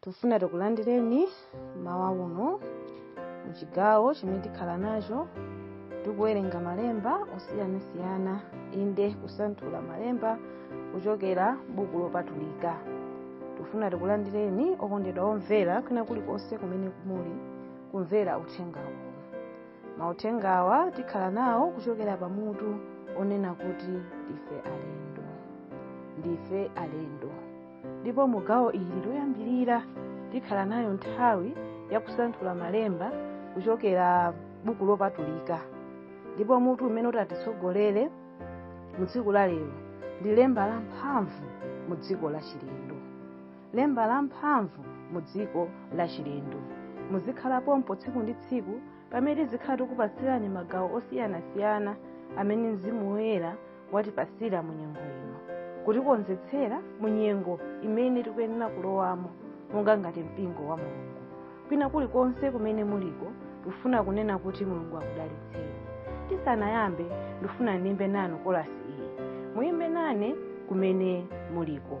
tufuna tikulandireni mawa uno mu chigawo chimene tikhala nacho tikuwerenga malemba osiyanasiyana inde kusanthula malemba kuchokera buku lopatulika tufuna tikulandireni okondedwa omvera kwina kulikonse kumene muli kumvera uthenga uwu mauthengawa tikhala nawo kuchokera pa mutu onena kuti ndife alendo ndife alendo ndipo mu gawo ili loyambirira tikhala nayo nthawi ya kusanthula malemba kuchokera buku lopatulika ndipo mutu umene utatitsogolere mu tsiku la lero ndi lemba la mphamvu mu dziko la chilendo lemba la mphamvu mu dziko la chilendo muzikhala pompo tsiku ndi tsiku pamene tizikhala tikupatsirani magawo osiyanasiyana amene mzimu woyera watipasira mu nyengo ino kutikonzetsera mu nyengo imene tikuyenera kulowamo monga ngati mpingo wa mulungu kwina kulikonse kumene muliko tufuna kunena kuti mulungu akudalitseni tisanayambe ndifuna ndiyimbe nanu kolasi iyi muyimbe nane kumene muliko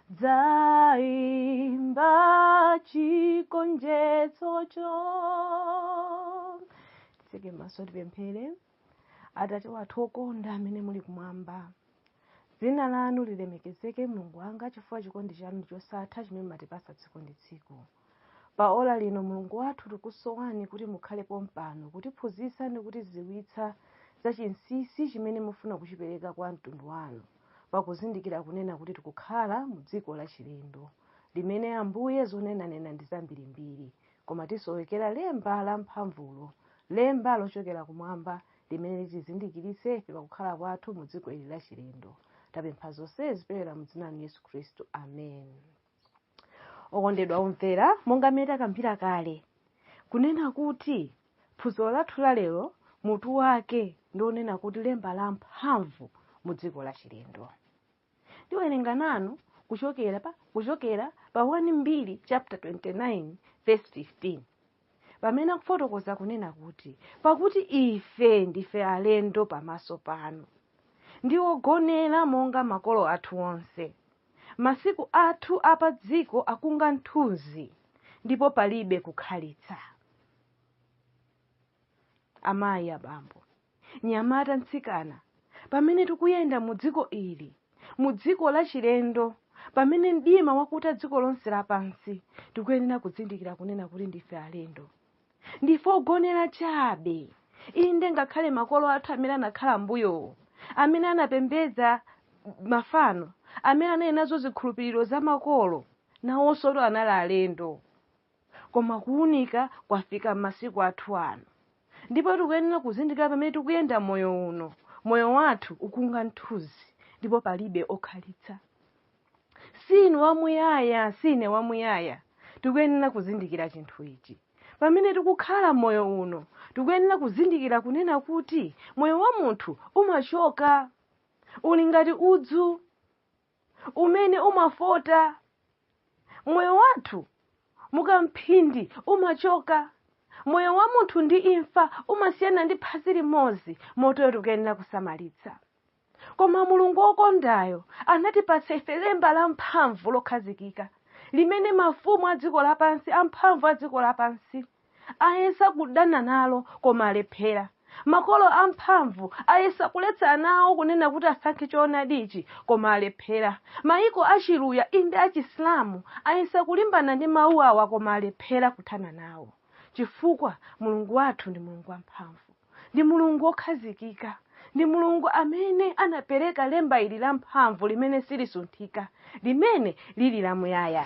dzaimba chigonjetsocho tiseke maso tipemphere atate wathu okonda amene muli kumwamba dzina lanu lilemekezeke mulungu wanga chifukwa chikondi chanu ndi chosatha chimene matipasa tsiku ndi tsiku pa ola lino mulungu wathu tikusowani kuti mukhale pompano kutiphunzitsa ndi kutidziwitsa za chinsinsi chimene mufuna kuchipereka kwa mtundu wanu pakuzindikira kunena kuti tikukhala mu dziko lachilendo limene ambuye zonenanena ndi zambirimbiri koma tisowekera lemba la mphamvulo lemba lochokera kumwamba limene litizindikiritse ife pakukhala kwathu mu dziko ili lachilendo tapempha zonsezi kupyolera mu dzina la yesu khristu amen okondedwa omvera monga mmene takambira kale kunena kuti phunziro lathu la lero mutu wake ndi onena kuti lemba la mphamvu mu dziko la chilendo ndiwerenga nanu kuchokera pa kuchokera pa 1 mbiri chapter 29 verse 15 pamene akufotokoza kunena kuti pakuti ife ndife alendo pamaso panu ndi ogonera monga makolo athu onse masiku athu a padziko akunga nthunzi ndipo palibe kukhalitsa amayi abambo mnyamata mtsikana pamene tikuyenda mu dziko ili mu dziko la chilendo pamene mdima wakuta dziko lonse lapansi tikuyenera kudzindikira kunena kuti ndife alendo ndife ogonera chabe inde ngakhale makolo athu amene anakhala mbuyowo amene anapembedza mafano amene anali nazo zikhulupiriro za makolo nawonsotu anali alendo Koma kuunika kwafika m'masiku athu ano, ndipo tikuyenera kuzindikira pamene tikuyenda moyo uno. Moyo wathu ukunga mthunzi, ndipo palibe okhalitsa. Si inu wamuyaya, si ine wamuyaya. Tikuyenera kuzindikira chinthu ichi. Pamene tikukhala moyo uno, tikuyenera kuzindikira kunena kuti moyo wa munthu umachoka, uli ngati udzu. umene umafota moyo wathu mukamphindi umachoka moyo wa munthu ndi imfa umasiyana ndi phazi limodzi motero tikuyenera kusamalitsa koma mulungu wokondayo anatipatsa ife lemba la mphamvu lokhazikika limene mafumu a dziko lapansi amphamvu a dziko lapansi ayesa kudana nalo koma alephera makolo amphamvu ayesa kuletsa ana awo kunena kuti asankhe choonadichi koma alephera mayiko achiluya inde achisilamu ayesa kulimbana ndi mawu awa koma alephera kuthana nawo chifukwa mulungu wathu ndi mulungu wamphamvu ndi mulungu wokhazikika ndi mulungu amene anapereka lemba ili lamphamvu limene silisunthika limene lili lamuyaya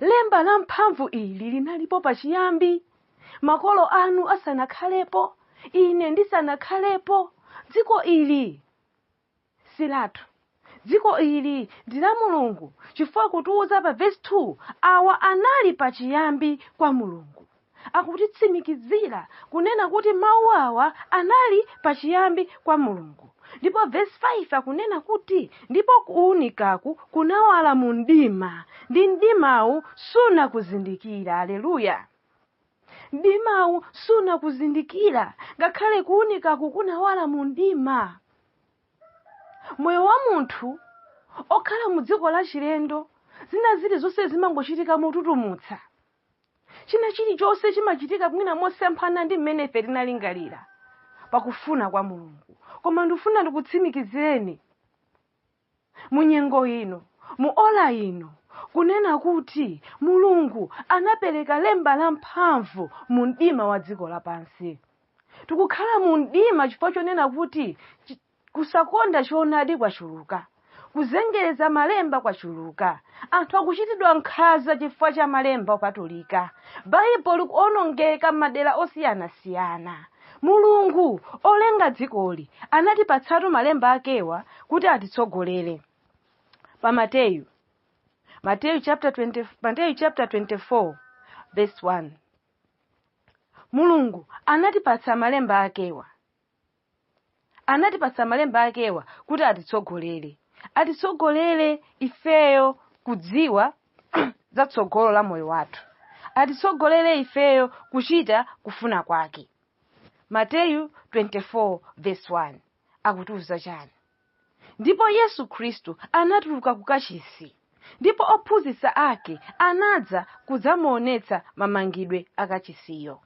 Lemba lamphamvu ili linalipo pachiyambi, makolo anu asanakhalepo, ine ndisanakhalepo. Dziko ili si lathu. Dziko ili ndi la Mulungu chifukwa akutiuza pa vesi 2 awa anali pachiyambi kwa Mulungu. akutitsimikizira kunena kuti mawu awa anali pachiyambi kwa mulungu ndipo vesi 5 akunena kuti ndipo kuunikaku kunawala mu mdima ndi mdimawu sunakuzindikira aleluya mdimawu sunakuzindikira ngakhale kuunikaku kunawala mu mdima moyo wa munthu okhala mu dziko lachilendo zina zilizonse zimangochitika motutumutsa china chilichonse chimachitika mwina mosemphana ndi mmene ife tinalingalira pakufuna kwa mulungu koma ndikufuna ndikutsimikizireni mu nyengo ino mu ola ino kunena kuti mulungu anapereka lemba la mphamvu mu mdima wa dziko lapansi tikukhala mu mdima chifukwa chonena kuti chi- Kusakonda choonadi kwachuluka. Kuzengereza Malemba kwachuluka. Anthu akuchitidwa nkhanza chifukwa cha Malemba Opatulika. Baibulo likuwonongeka m'madera osiyanasiyana. Mulungu, olenga dzikoli, anatipatsatu Malemba akewa kuti atitsogolere. Pa Mateyu Mateyu chapter 20 Mateyu chapter 24 verse 1 Mulungu anatipatsa Malemba akewa anatipatsa malemba akewa kuti atitsogolere atitsogolere ifeyo kudziwa za tsogolo la moyo wathu atitsogolere ifeyo kuchita kufuna kwake mateyu 24 verse 1 akutiuza chani ndipo yesu khristu anatuluka kukachisi ndipo ophunzitsa ake anadza kudzamuonetsa mamangidwe akachisiyo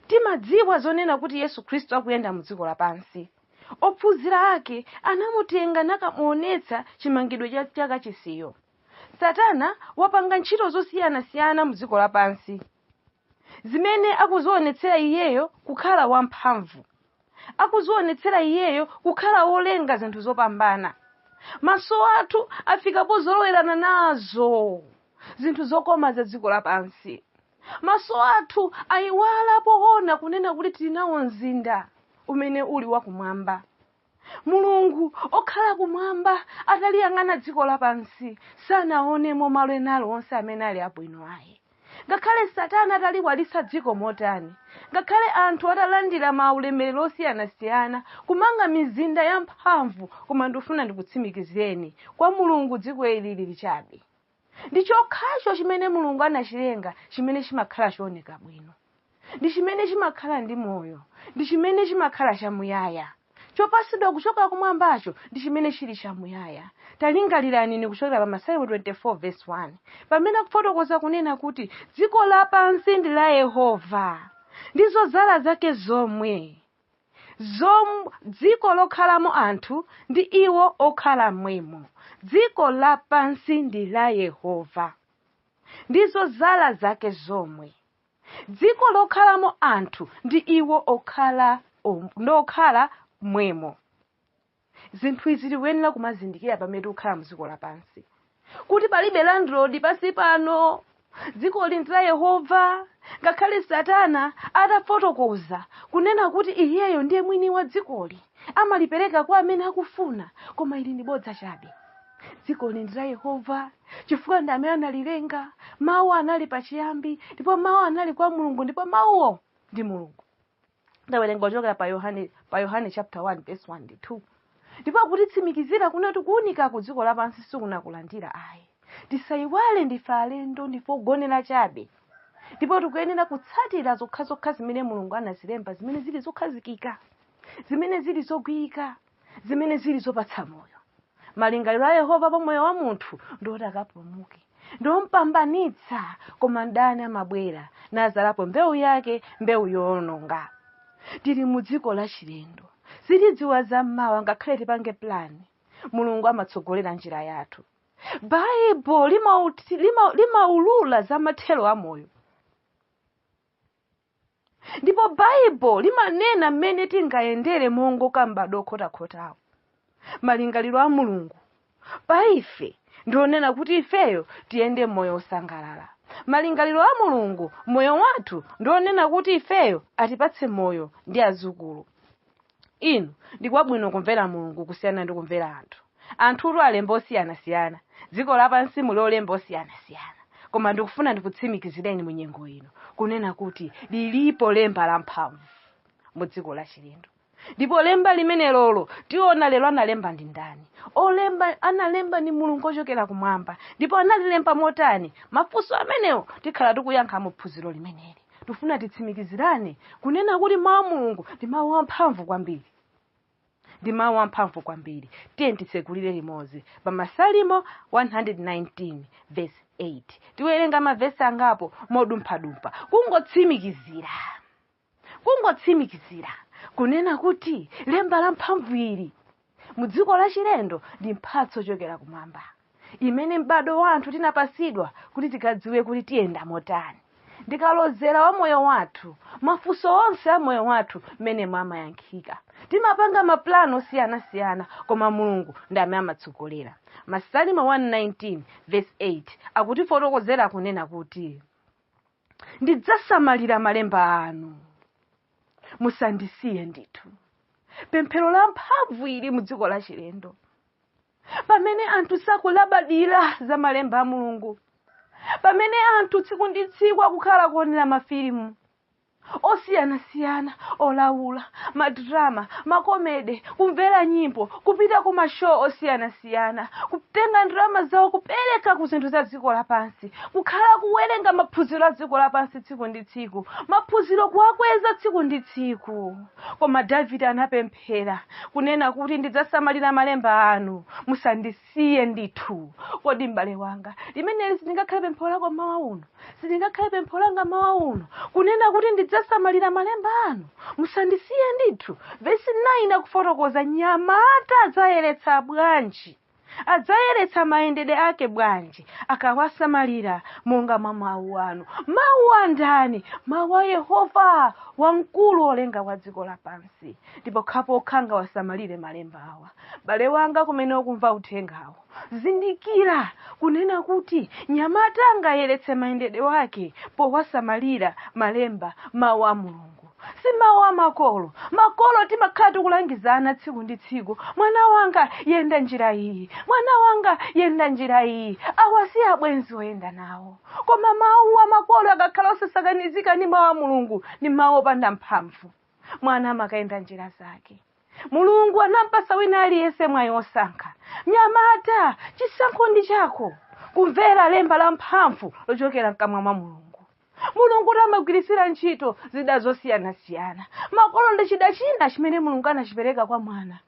Timadziwa zonena kuti Yesu Khristu akuyenda mu dziko lapansi. Ophunzira ake anamutenga nakamuonetsa chimangidwe cha kachisiyo. Satana wapanga ntchito zosiyanasiyana mu dziko lapansi zimene akuzionetsera iyeyo kukhala wamphamvu. Akuzionetsera iyeyo kukhala wolenga zinthu zopambana. Maso athu afika pozolowerana nazo zinthu zokoma za dziko lapansi. Maso athu aiwala poona kunena kuti tili nawo mzinda umene uli wa kumwamba. Mulungu okhala kumwamba ataliyang'ana dziko lapansi sanaonemo malo ena alionse amene ali abwino ayi. Ngakhale satana ataliwalitsa dziko motani, ngakhale anthu atalandira maulemerero osiyanasiyana, kumanga mizinda yamphamvu koma ndifuna ndikutsimikizireni, kwa Mulungu dziko ili lili chabe. Ndi chokhacho chimene Mulungu anachilenga chimene chimakhala chooneka bwino. Ndi chimene chimakhala ndi moyo. Ndi chimene chimakhala chamuyaya. Chopatsidwa kuchoka kumwambacho ndi chimene chili chamuyaya. Talingalirani inu kuchokera pa Masalimo 24 vesi 1, pamene akufotokoza kunena kuti dziko lapansi ndi la Yehova, ndi zodzala zake zomwe. zom dziko lokhalamo anthu ndi iwo okhala mmwemo dziko lapansi ndi la yehova ndi zodzala zake zomwe dziko lokhalamo anthu ndi iwo okhala om- ndi okhala mmwemo zinthu izi tikuyenera kumazindikira pamene tikukhala mdziko lapansi kuti palibe landlord pansi pano dzikoli ndi la yehova ngakhale satana atafotokoza kunena kuti iyeyo ndiye mwini wa dzikoli amalipereka kwa amene akufuna koma ili ndi bodza chabe dzikoli ndi la yehova chifukwa ndi amene analilenga mawu anali pachiyambi ndipo mawu anali kwa mulungu ndipo mawuwo ndi mulungu ndawerenga kuchokera pa yohane pa yohane chapter 1 verse 1 ndi 2 ndipo akutitsimikizira kunena kuti kuunika ku dziko lapansi sikunakulandira ayi tisayiwale ndife alendo ndife ogonera chabe ndipo tikuyenera kutsatira zokhazokha zimene mulungu anazilemba zimene zili zokhazikika zimene zili zogwirika zimene zili zopatsa moyo malingaliro a yehova pa moyo wa munthu ndiwoti akapulumuke ndiwompambanitsa koma mdani amabwera nazalapo mbewu yake mbewu yoononga tili mu dziko lachilendo sitidziwa za mmawa ngakhale tipange plani mulungu amatsogolera njira yathu baibulo limaulula za mathero a moyo ndipo baibulo limanena mmene tingayendere mongoka m'bado okhotakhotawo malingaliro a mulungu pa ife ndionena kuti ifeyo tiyende moyo wosangalala malingaliro a mulungu moyo wathu ndionena kuti ifeyo atipatse moyo ndi azukulu inu ndi kwabwino kumvera mulungu kusiyana ndi kumvera anthu anthutu alemba osiyanasiyana dziko lapansi muli olemba osiyanasiyana koma ndikufuna ndikutsimikizireni mu nyengo ino kunena kuti lilipo lemba lamphamvu mu dziko la chilendo ndipo lemba limenelolo tiona lero analemba ndi ndani olemba analemba ndi mulungu ochokera kumwamba ndipo analilemba motani mafunso amenewo tikhala tikuyankha mu phunziro limeneli tifuna titsimikizirane kunena kuti mawu a mulungu ndi mawu amphamvu kwambiri ndi mawu amphamvu kwambiri tiye titsekulire limodzi pa masalimo 119 verse 8 tiwerenga mavesi angapo modumphadumpha kungotsimikizira kungotsimikizira kunena kuti lemba la mphamvu ili mu dziko lachilendo ndi mphatso yochokera kumwamba imene m'bado wa anthu tinapasidwa kuti tikadziwe kuti tiyenda motani ndikalozera wa moyo wathu mafunso onse a moyo wathu m'menemo amayankhika timapanga mapulani osiyanasiyana koma mulungu ndi amene amatsogolera masalimo 119 verse 8 akutifotokozera kunena kuti ndidzasamalira malemba anu musandisiye ndithu pemphero la mphamvu ili mu dziko la chilendo pamene anthu sakulabadira za malemba a mulungu pamene anthu tsiku ndi tsiku akukhala kuonera mafilimu osiyanasiyana olawula madrama makomede kumvera nyimbo kupita ku mashow osiyanasiyana osiyanasiyana kutenga ndalama zawo kupereka ku zinthu za dziko lapansi kukhala kuwerenga maphunziro a dziko lapansi tsiku ndi tsiku maphunziro kuwakweza tsiku ndi tsiku koma davide anapemphera kunena kuti ndidzasamalira malemba anu musandisiye ndithu kodi m'bale wanga limeneli silingakhale pemphero lako mmawa uno silingakhale pempho langa mawa uno kunena kuti ndidzasamalira malemba anu musandisiye ndithu vesi 9 akufotokoza nyamata adzayeretsa bwanji adzayeretsa mayendedwe ake bwanji akawasamalira monga mwa mawu anu mawu a ndani mawu a yehova wamkulu olenga wa dziko lapansi ndi pokhapokha angawasamalire malemba awa bale wanga kumene ukumva uthengawo Zindikira kunena kuti nyamata angayeretse mayendedwe wake powasamalira malemba, mawu a Mulungu. Si mawu a makolo. Makolo timakhala tikulangiza ana tsiku ndi tsiku. Mwana wanga yenda njira iyi. Mwana wanga yenda njira iyi. Awa si abwenzi oyenda nawo. Koma mawu a makolo akakhala osasakanizika ndi mawu a Mulungu ndi mawu opanda mphamvu. Mwana amakayenda njira zake. mulungu anampasa wina aliyense mwayi wosankha mnyamata chisankho ndi chako kumvera lemba la mphamvu lochokera mkamwa mwa mulungu mulungu amagwiritsira ntchito zida zosiyanasiyana makolo ndi chida china chimene mulungu anachipereka kwa mwana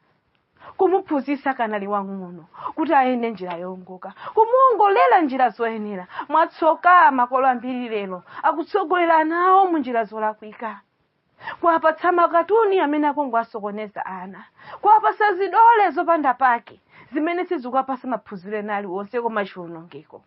kumuphunzitsa akanali wang'ono kuti ayende njira yowongoka kumuongolera njira zoyenera mwatsoka makolo ambiri lero akutsogolera ana awo mu njira zolakwika kuwapatsa makatuni amene akungowasokoneza ana kuwapasa zidole zopanda pake zimene sizikuwapasa maphunziro ena aliwonse koma chiwonongeko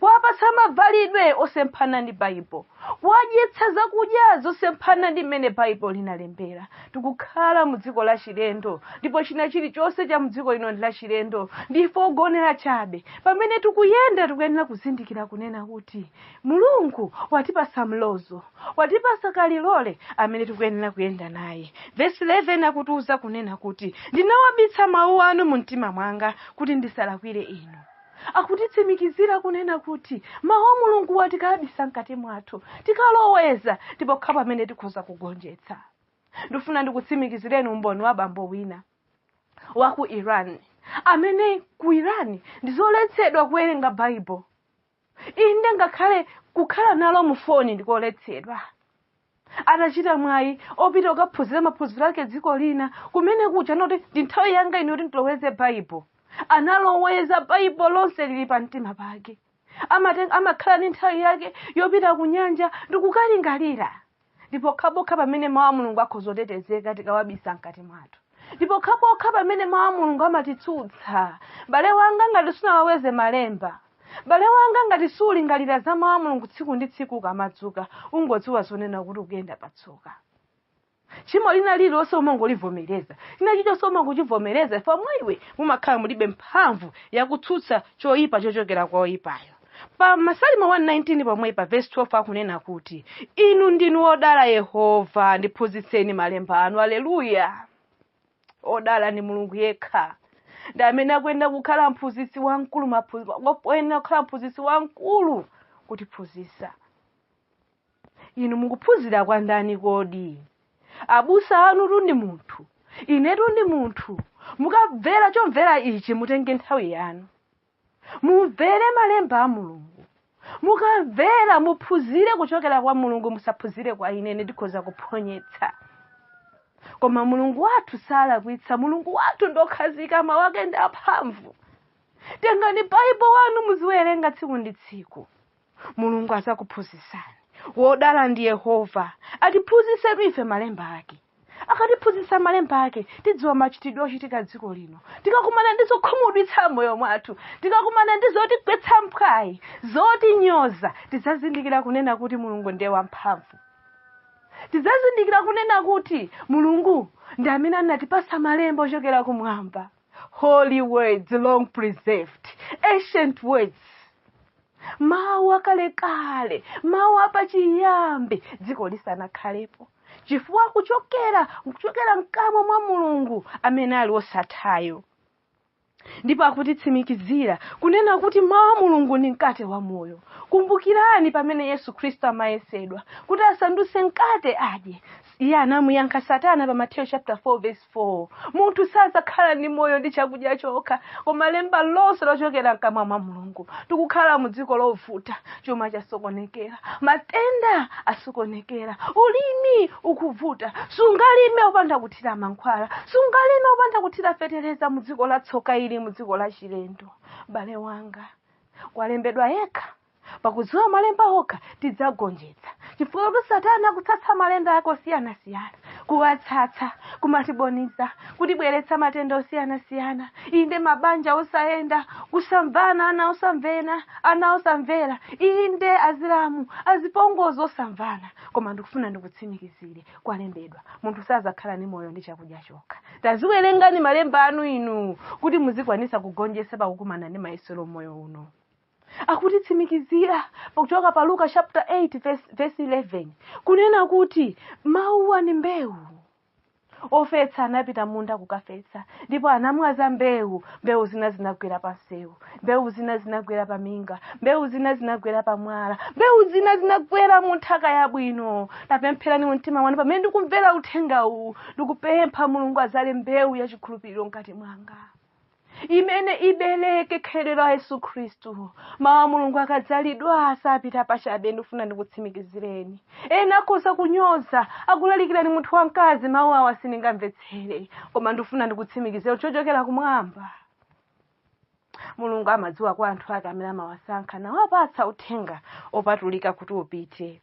kuwapasa mavalidwe osemphana ndi baibulo kuwadyetsa zakudya zosemphana ndi mmene baibulo linalembera tikukhala mu dziko la chilendo ndipo china chilichonse cha mu dziko lino ndi la chilendo ndife ogonera chabe pamene tikuyenda tikuyenera kuzindikira kunena kuti mulungu watipasa mlozo watipasa kalilole amene tikuyenera kuyenda naye vesi 11 akutiuza kunena kuti ndinawabitsa mawu anu mu mtima mwanga kuti ndisalakwire inu akutitsimikizira kunena kuti mawu a mulunguwa tikawabisa mkati mwathu tikaloweza ndi pokhapo pamene tikhoza kugonjetsa ndifuna ndikutsimikizireni umboni wa bambo wina wa ku iran amene ku iran ndizoletsedwa kuwerenga baibulo inde ngakhale kukhala nalo mu foni ndikoletsedwa atachita mwayi opita kukaphunzira maphunziro ake dziko lina kumene kuja anati ndi nthawi yanga ino kuti ndiloweze baibulo analoweza baibulo lonse lili pa mtima pake Amaten- amakhala ndi nthawi yake yopita ku nyanja ndikukalingalira ndi pokhapokha pamene mawu a mulungu akhoza kutetezeka tikawabisa mkati mwathu ndi pokhapokha pamene mawu a mulungu amatitsutsa bale wanga ngati sunaloweze malemba bale wanga ngati sulingalira za mawu a mulungu tsiku ndi tsiku ukamadzuka ungodziwa zonena kuti ukuyenda patsoka tchimo lina lililonse umangolivomereza china chilichonse umangochivomereza chifukwa mwa iwe mumakhala mulibe mphamvu yakutsutsa choyipa chochokera kwa oyipayo pa masalimo 119 pomwe pa vesi 12 akunena kuti inu ndinu wodala yehova ndiphunzitseni malemba anu aleluya odala ndi mulungu yekha ndi amene akuyenera kukhala mphunzitsi wamkulu maphu- akuyenera kukhala mphunzitsi wamkulu kutiphunzitsa inu mukuphunzira kwa ndani kodi abusa anutu ndi munthu inetu ndi munthu mukamvera chomvera ichi mutenge nthawi yanu mumvere malemba a mulungu mukamvera muphunzire kuchokera kwa mulungu musaphunzire kwa ine ine ndikhoza kuphonyetsa koma mulungu wathu salakwitsa mulungu wathu ndokhazika mawu ake ndi amphamvu tengani baibo yanu muziwerenga tsiku ndi tsiku mulungu azakuphunzitsani wodala ndi yehova atiphunzitsetu ife malemba ake akatiphunzitsa malemba ake tidziwa machitidwe ochitika dziko lino tikakumana ndi zokhumudwitsa moyo mwathu tikakumana ndi zotigwetsa mphwayi zotinyoza tidzazindikira kunena kuti mulungu ndiye wamphamvu tidzazindikira kunena kuti mulungu ndi amene anatipasa malemba ochokera kumwamba holy words long preserved ancient words mawu akalekale mawu apachiyambi dziko lisanakhalepo chifukwa akuchokera kuchokera mkamwa mwa mulungu amene ali osathayo ndipo akutitsimikizira kunena kuti mawu a mulungu ndi mkate wa moyo kumbukirani pamene yesu khristu amayesedwa kuti asandutse mkate adye iye anamuyankha satana pa mateyo chapter 4 verse 4 munthu sadzakhala ndi moyo ndi chakudya chokha koma lemba lonse lochokera mkamwa mwa mulungu tikukhala mu dziko lovuta chuma chasokonekera matenda asokonekera ulimi ukuvuta sungalime upanda kuthira mankhwala sungalime upanda kuthira fetereza mu dziko la tsoka ili mu dziko la chilendo m'bale wanga kwalembedwa yekha pakudziwa malemba okha tidzagonjetsa chifukwa kuti satana akutsatsa malonda ake osiyanasiyana kuwatsatsa kumatiboniza kutibweretsa matenda osiyanasiyana inde mabanja osayenda kusamvana ana osamvena ana osamvera inde azilamu azipongozi osamvana koma ndikufuna ndikutsimikizire kwalembedwa munthu sazakhala ni moyo ndi chakudya chokha taziwerengani malemba anu inu kuti muzikwanisa kugonjetsa pakukumana ndi mayesero m'moyo uno akutitsimikizira pakuchoka pa luka chapter 8 verse, verse 11 kunena kuti mawuwa ni mbewu ofetsa anapita m'munda kukafetsa ndipo anamwaza mbewu mbewu zina zinagwera pa msewu mbewu zina zinagwera pa minga mbewu zina zinagwera pa mwala mbewu zina zinagwera mu nthaka yabwino tapempherani mu mtima wanu pamene ndikumvera uthenga uwu ndikupempha mulungu azale mbewu ya chikhulupiriro mkati mwanga imene ibereke khalidwe la yesu khristu mawu a mulungu akadzalidwa sapita pachabe ndikufuna ndikutsimikizireni ena akhoza kunyoza akulalikirani munthu wamkazi mawu awa sindingamvetsere koma ndikufuna ndikutsimikizire chochokera kumwamba mulungu amadziwa kwa anthu ake amene amawasankha nawapatsa uthenga opatulika kuti upite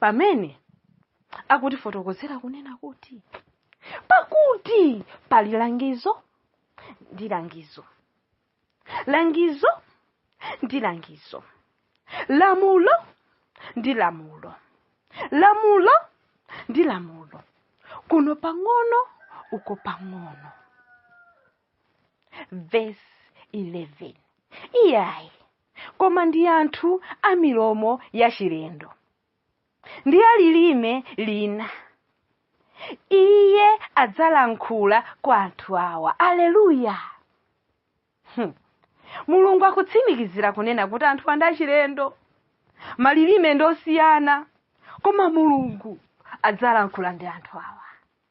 pamene akutifotokozera kunena kuti pakuti pali langizo ndi langizo langizo ndi langizo lamulo ndi lamulo lamulo ndi lamulo kuno pang'ono uko pang'ono verse 11 iyayi koma ndi anthu a milomo yachilendo ndi a lilime lina iye adzalankhula kwa anthu awa aleluya mulungu akutsimikizira kunena kuti anthu ndi achilendo malilime ndi osiyana koma mulungu adzalankhula ndi anthu awa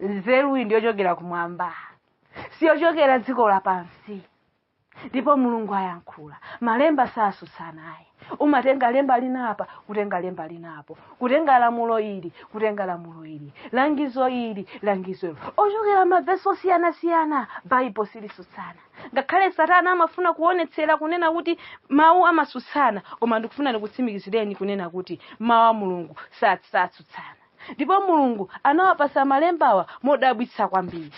nzeruyi ndiyochokera kumwamba siyochokera dziko lapansi ndipo mulungu ayankhula malemba sasutsana ayi umatenga lemba linapa kutenga lemba linapo kutenga lamulo ili kutenga lamulo ili langizo ili langizo ili ochokera mavesi osiyanasiyana baibo silisutsana ngakhale satana amafuna kuonetsera kunena kuti mawu amasutsana koma ndikufuna ndikutsimikizireni kunena kuti mawu a mulungu satsutsana ndipo mulungu anawapasa malembawa modabwitsa kwambiri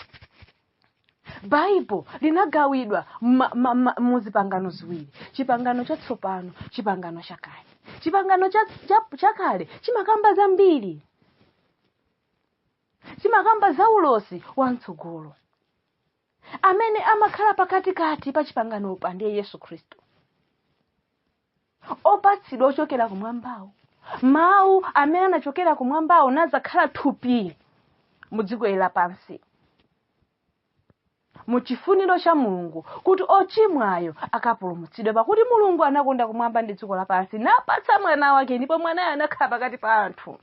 baibo linagawidwa ma- ma- ma- mu zipangano ziwiri chipangano chatsopano chipangano chakale chipangano cha- cha- chakale chimakamba zambiri chimakamba za ulosi wa mtsogolo amene amakhala pakatikati pa chipanganopa ndiye yesu khristu opatsidwa ochokera kumwambawo mawu amene anachokera kumwambawo nazakhala thupi mu dziko ili lapansi mu chifuniro cha mulungu kuti ochimwayo akapulumutsidwe pakuti mulungu anakonda kumwamba ndi dziko lapansi napatsa mwana wake ndipo mwanayo anakhala pakati pa anthu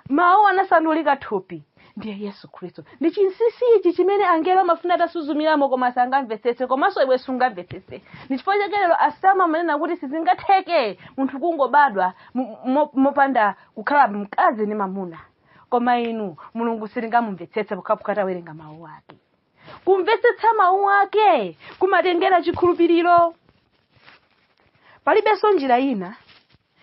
mawu anasandulika thupi ndiye yesu khristu ndi chinsinsi ichi chimene angelo amafuna atasuzumiramo koma sangamvetsetse komanso iwe sungamvetsetse ndi chifukwa chake lero asilamu amanena kuti sizingatheke munthu kungobadwa mo- mo- mopanda kukhala mkazi ndi mamuna koma inu mulungu sitingamumvetsetse pokhapokha tawerenga mawu ake kumvetsetsa mawu ake kumatengera chikhulupiriro palibenso njira ina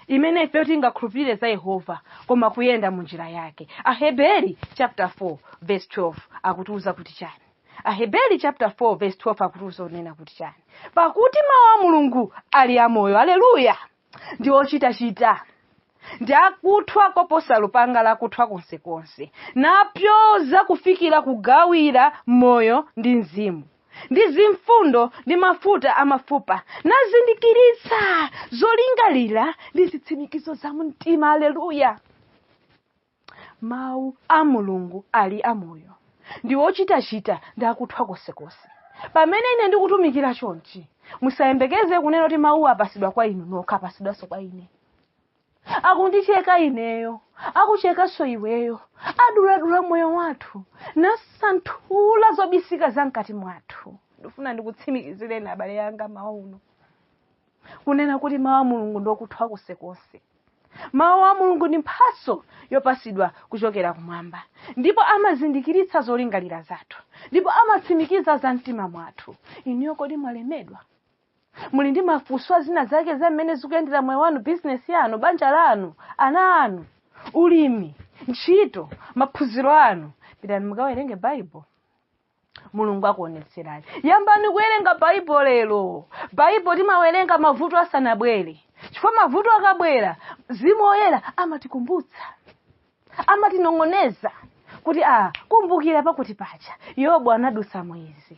imene ifeyo tingakhulupirire za yehova koma kuyenda mu njira yake aheberi chapter 4 verse 12 akutiuza kuti chani aheberi chapter 4 verse 12 akutiuza unena kuti chani pakuti mawu a mulungu ali amoyo aleluya ndi ochitachita ndi akuthwa koposa lupanga lakuthwa konsekonse napyoza kufikira kugawira moyo ndi mzimu ndi zimfundo ndi mafuta a mafupa nazindikiritsa zolingalira ndi zitsimikizo za mumtima aleluya mawu a mulungu ali amoyo ndi ochitachita ndi akuthwa konsekonse pamene ine ndikutumikira chonchi musayembekeze kunena kuti mawuwa apasidwa kwa inu nokha apasidwanso kwa ine akundicheka ineyo akuchekanso iweyo aduladula moyo wathu nasanthula zobisika za mkati mwathu ndifuna ndikutsimikizireni abale yanga mmawa uno kunena kuti mawu a mulungu ndi okuthwa konsekonse mawu a mulungu ndi mphatso yopasidwa kuchokera kumwamba ndipo amazindikiritsa zolingalira zathu ndipo amatsimikiza za mtima mwathu inuyo kodi mwalemedwa muli ndi mafunso a zina zake za mmene zikuyendera moyo wanu bizinesi yanu banja lanu ana anu ulimi ntchito maphunziro anu pitani mukawerenge bible mulungu akuonetserani yambani kuwerenga bible lero bible timawerenga mavuto asanabwere chifukwa mavuto akabwera mzimu woyera amatikumbutsa amatinong'oneza kuti a kumbukira pakuti pacha yobu anadutsa mwizi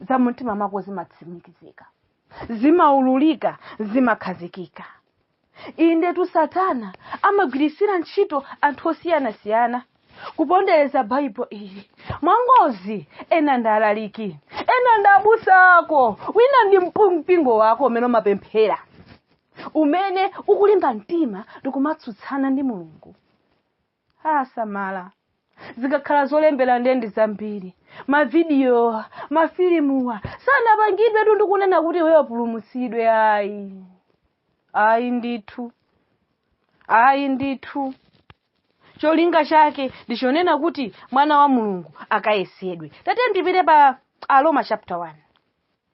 za mumtima mwako zimatsimikizika zimaululika zimakhazikika indetu satana amagwiritsira ntchito anthu osiyanasiyana kupondereza bible ili mwangozi ena ndi alaliki ena ndi abusa ako wina ndi mpingo wako umene umapemphera umene ukulimba mtima ndikumatsutsana ndi mulungu ah samala zikakhala zolembera nde ndi zambiri mavidiyowa mafilimuwa sanapangidwetu ndikunena kuti iweyo upulumutsidwe ayi ayi ndithu ayi ndithu cholinga chake ndichonena kuti mwana wa mulungu akayesedwe tate ndipite pa aroma chapter 1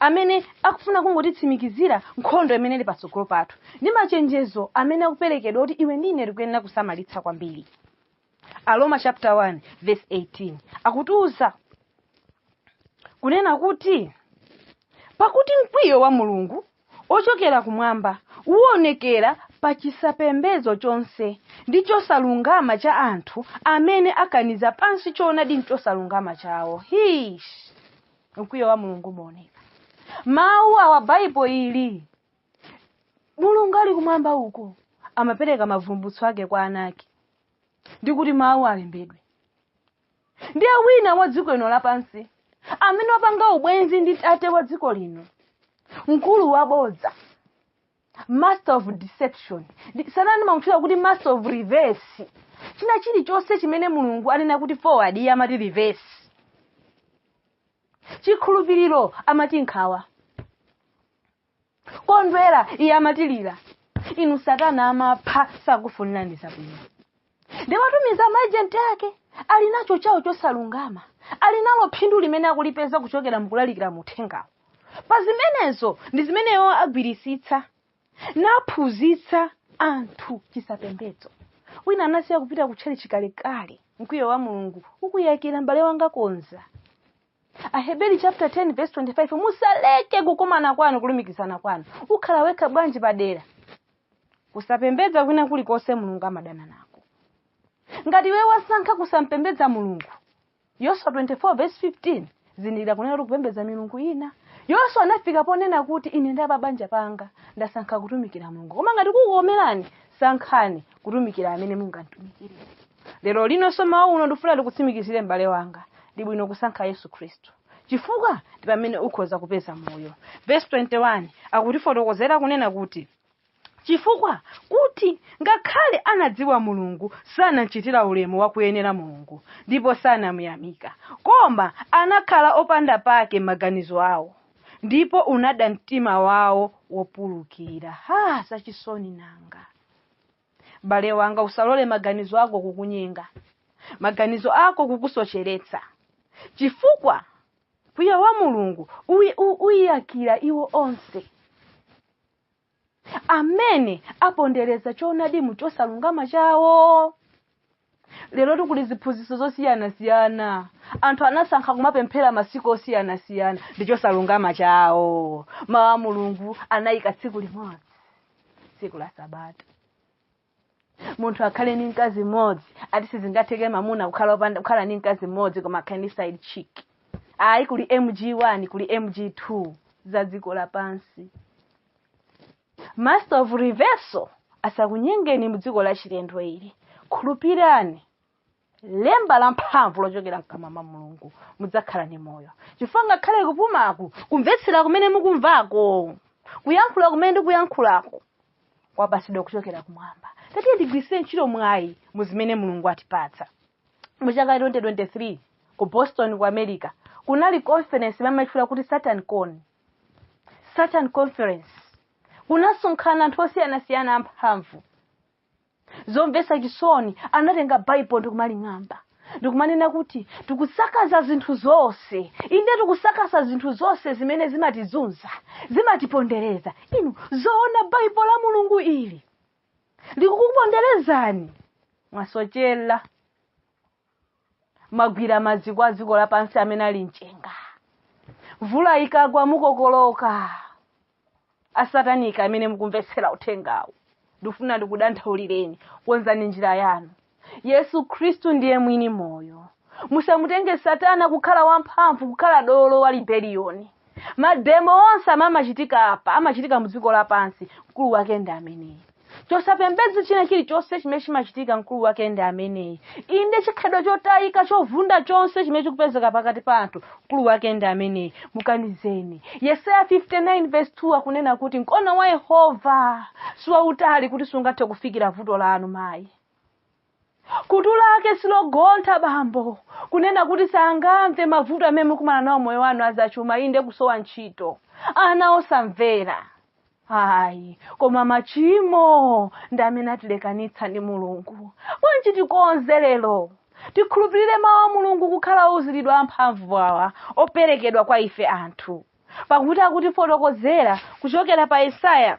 amene akufuna kungotitsimikizira nkhondo imene ili patsogolo pathu ndi machenjezo amene akuperekedwa kuti iwe ndi ine tikuyenera kusamalitsa kwambiri aroma chapter 1 verse 18 akutiuza kunena kuti pakuti mkwiyo wa mulungu wochokera kumwamba, uwonekera pa chisapembedzo chonse ndi chosalungama cha anthu amene akaniza pansi choonadi mchosalungama chawo. Hish! Mkwiyo wa Mulungu umaoneka. Mawu awa Baibulo ili. Mulungu ali kumwamba uko amapereka mavumbutso ake kwa ana ake ndikuti mawuwa alembedwe. ndiye wina wa dziko lino lapansi amene wapanga ubwenzi ndi tate wa dziko lino mkulu wabodza master of deception Satana ndimamutchula kuti master of reverse china chilichonse chimene mulungu anena kuti forward iye amati reverse chikhulupiriro amati nkhawa kondwera iye amati lira inu satana amapha sakufunirani zabwino ndi amatumiza maejenti ake ali nacho chawo chosalungama ali nalo phindu limene akulipeza kuchokera mukulalikira muthengawo pa zimenezo ndi zimene iwo agwiritsitsa naphunzitsa anthu chisapembedzo wina anasiya kupita kutchalitchi kalekale mkwiyo wa mulungu ukuyakira m'bale wanga konza aheberi chapter 10 verse 25 musaleke kukumana kwanu kulumikizana kwanu ukhala wekha bwanji padera kusapembedza kwina kulikonse mulungu amadana nako ngati iwe wasankha kusamupembedza mulungu yoswa 24 verse 15 zindikira kunena kuti kupembedza milungu ina yoswa anafika ponena kuti ine ndi apabanja panga ndasankha kutumikira mulungu koma ngati kukukomerani sankhani kutumikira amene mungamtumikire lero lino m'mawa uno ndikufuna ndikutsimikizire m'bale wanga ndi bwino kusankha yesu khristu chifukwa ndi pamene ukhoza kupeza moyo vesi 21 akutifotokozera kunena kuti chifukwa kuti ngakhale anadziwa mulungu sanamchitira ulemu wakuyenera mulungu ndipo sanamuyamika koma anakhala opanda pake m'maganizo awo ndipo unada mtima wawo wopulukira ha zachisoni nanga bale wanga usalole maganizo ako kukunyenga maganizo ako kukusocheretsa chifukwa mkwiyo wa mulungu uyi- u- uyiyakira iwo onse amene apondereza choonadi mu chosalungama chawo lero tikuli ziphunzitso zosiyanasiyana anthu anasankha kumapemphera masiku osiyanasiyana ndi chosalungama chawo mawu a mulungu anayika tsiku limodzi tsiku la sabata munthu akhale ndi mkazi mmodzi ati sizingatheke mamuna kukhala opanda- kukhala ndi mkazi mmodzi koma akhale ndi side chick ayi kuli mg1 kuli mg2 za dziko lapansi master of reversal asakunyengeni mdziko la chilendo ili khulupirani lemba la mphamvu lochokera mkamwa mwa mulungu mudzakhala ndi moyo chifukwa ngakhale kupumaku kumvetsera kumene mukumvako kuyankhula kumene ndikuyankhulako kwapatsidwa kuchokera kumwamba tatiyeni tigwiritse ntchito mwayi mu zimene mulungu atipatsa mu chaka 2023 ku boston ku america kunali conference imamatchula kuti satan con satan conference kunasonkhana anthu osiyanasiyana amphamvu zomvetsa chisoni anatenga baibulo ndikumaling'amba ndikumanena kuti tikusakaza zinthu zonse inde tikusakaza zinthu zonse zimene zimatizunza zimatipondereza inu zoona baibulo la mulungu ili likukuponderezani mwasochera mwagwira maziko a dziko lapansi amene ali mchenga mvula ikagwa mukokoloka asatanika amene mukumvetsera uthengawu ndifuna ndikudandaulireni konzani njira yanu yesu khristu ndiye mwini moyo musamutenge satana kukhala wamphamvu kukhala dolo wa libeliyoni mademo onse amachitika apa amachitika mu dziko lapansi mkulu wake ndi ameneyu chosapembedza china chilichonse chimene chimachitika mkulu wake ndi ameneyu inde chikhalidwe chotayika chovunda chonse chimene chikupezeka pakati pa anthu mkulu wake ndi ameneyu mukanizeni yesaya 59 verse 2 akunena kuti mkono wa yehova siwautali kuti sungathe kufikira vuto lanu mayi Khutu lake silogontha bambo, kunena kuti sangamve mavuto amene mukumana nawo moyo wanu azachuma, inde kusowa ntchito, ana osamvera ayi koma machimo ndi amene atilekanitsa ndi mulungu bwanji tikonze lero tikhulupirire mawu a mulungu kukhala ouziridwa amphamvu awa operekedwa kwa ife anthu pakuti akutifotokozera kuchokera pa yesaya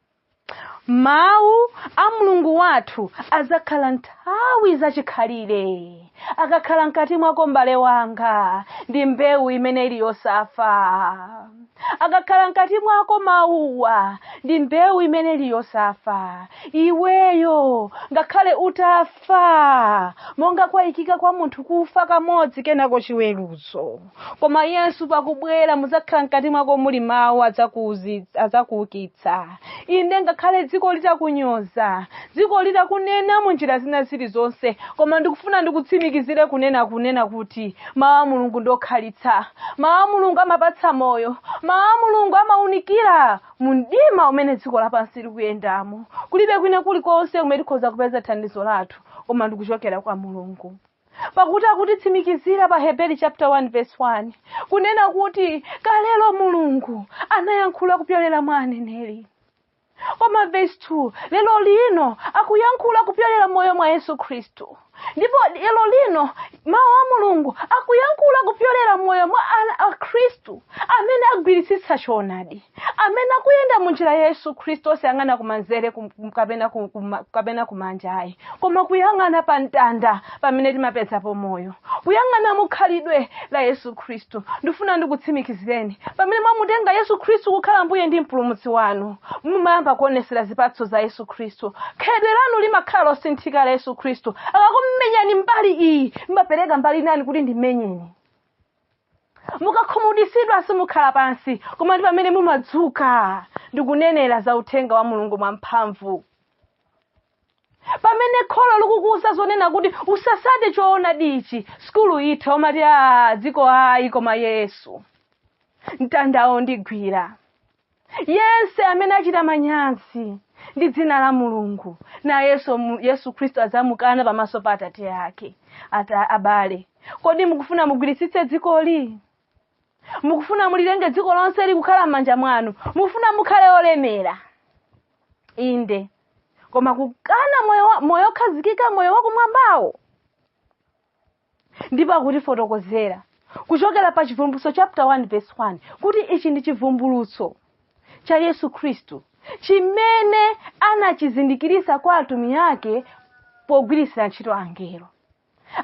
mawu a mulungu wathu adzakhala nthawi zachikhalire akakhala mkati mwako mbale wanga ndi mbewu imene ili yosafa akakhala mkati mwako mawuwa ndi mbewu imene ili yosafa iweyo ngakhale utafa monga kwaikika kwa munthu kufa kamodzi kenako chiweruzo koma yesu pakubwera mudzakhala mkati mwako muli mawu adzakuukitsa inde ngakhale dziko litakunyoza dziko litakunena mu njira zina zilizonse koma ndikufuna ndikutsimikizire kunena kunena kuti mawu a mulungu ndokhalitsa mawu a mulungu amapatsa moyo mawu a mulungu amaunikira mu mdima umene dziko lapansi likuyendamo kulibe kwina kulikonse kumene tikhoza kupeza thandizo lathu koma ndikuchokera kwa mulungu pakuti akutitsimikizira pa heberi chapter 1 verse 1 kunena kuti kalelo mulungu anayankhula kupyolera mwa aneneri koma verse 2 lero lino akuyankhula kupyolera moyo mwa yesu khristu ndipo lero lino mawu a mulungu akuyankhula kupyolera moyo mwa akhristu amene agwiritsitsa choonadi amene akuyenda mu njira ya yesu khristu osayang'ana kumanzere kapena kumanja ayi koma kuyang'ana pa mtanda pamene timapezapo moyo kuyang'ana mu khalidwe la yesu khristu ndifuna ndikutsimikizireni pamene mwamutenga yesu khristu kukhala mbuye ndi mpulumutsi wanu mumayamba kuonesera zipatso za yesu khristu khalidwe lanu limakhala losinthika la yesu khristu akakumenyani mbali iyi mumapereka mbali inayi kuti ndimenyeni mukakhumudwitsidwa simukhala pansi koma ndi pamene mumadzuka ndikunenera za uthenga wa mulungu mwamphamvu pamene kholo likukuuza zonena kuti usasate choonadi ichi sukulu itha umati za dziko ayi koma yesu mtandawo ndigwira yense amene achita manyazi ndi dzina la mulungu nayenso mu- yesu khristu adzamukana pamaso pa atate ake abale kodi mukufuna mugwiritsitse dzikoli mukufuna mulilenge dziko lonse likukhala m'manja mwanu mukufuna mukhale olemera inde koma kukana moyo wa- moyo okhazikika moyo wakumwambawo ndipo akutifotokozera kuchokera pa chivumbulutso chapter 1 verse 1 kuti ichi ndi chivumbulutso cha yesu khristu chimene anachizindikiritsa kwa atumiki ake pogwiritsira ntchito angelo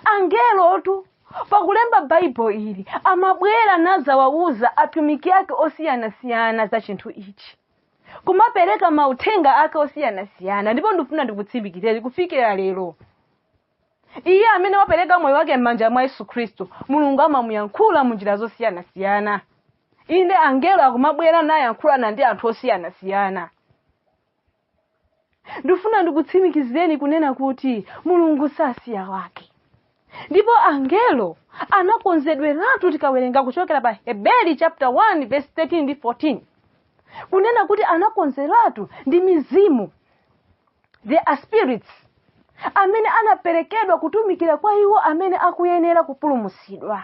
angelotu pakulemba baibulo ili amabwera nazawawuza atumiki ake osiyanasiyana za chinthu ichi kumapereka mauthenga ake osiyanasiyana ndipo ndikufuna ndikutsimikizire kufikira lero iye amene wapereka moyo wake m'manja mwa yesu khristu mulungu amamuyankhula mu njira zosiyanasiyana inde angelo akumabwera nayankhulana ndi anthu osiyanasiyana ndifuna ndikutsimikizireni kunena kuti mulungu sasiya wake ndipo angelo anakonzedweratu tikawerenga kuchokera pa heberi chapter 1 verse 13 ndi 14 kunena kuti anakonzeratu ndi mizimu they are spirits amene anaperekedwa kutumikira kwa iwo amene akuyenera kupulumutsidwa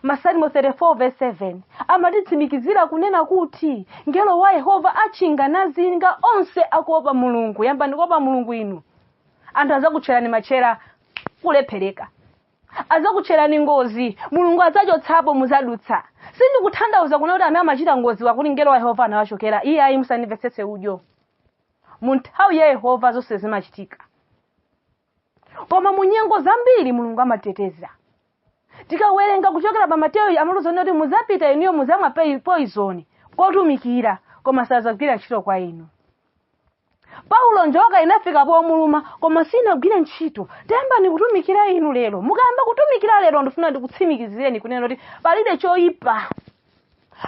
masalimo 34 verse 7 amatitsimikizira kunena kuti mngelo wa yehova atchinga nazinga onse akuopa mulungu yambani kuopa mulungu inu anthu azakutcherani matchera kulephereka azakutcherani ngozi mulungu adzachotsapo muzadutsa sindikutanthauza kunena kuti amene amachita ngozi kuti mngelo wa yehova anawachokera iye ayi musandimvetsetse udyo mu nthawi ya yehova zonse zimachitika koma mu nyengo zambiri mulungu amateteza tikawerenga kuchokera pa mateyu amaluzani kuti muzapita inuyo muzamwa pei- poizoni kotumikira koma sazagwira ntchito kwa inu paulo njoka inafika pomuluma koma sinagwire ntchito tayambani kutumikira inu lero mukayamba kutumikira lero ndifuna ndikutsimikizireni kunena kuti palibe choyipa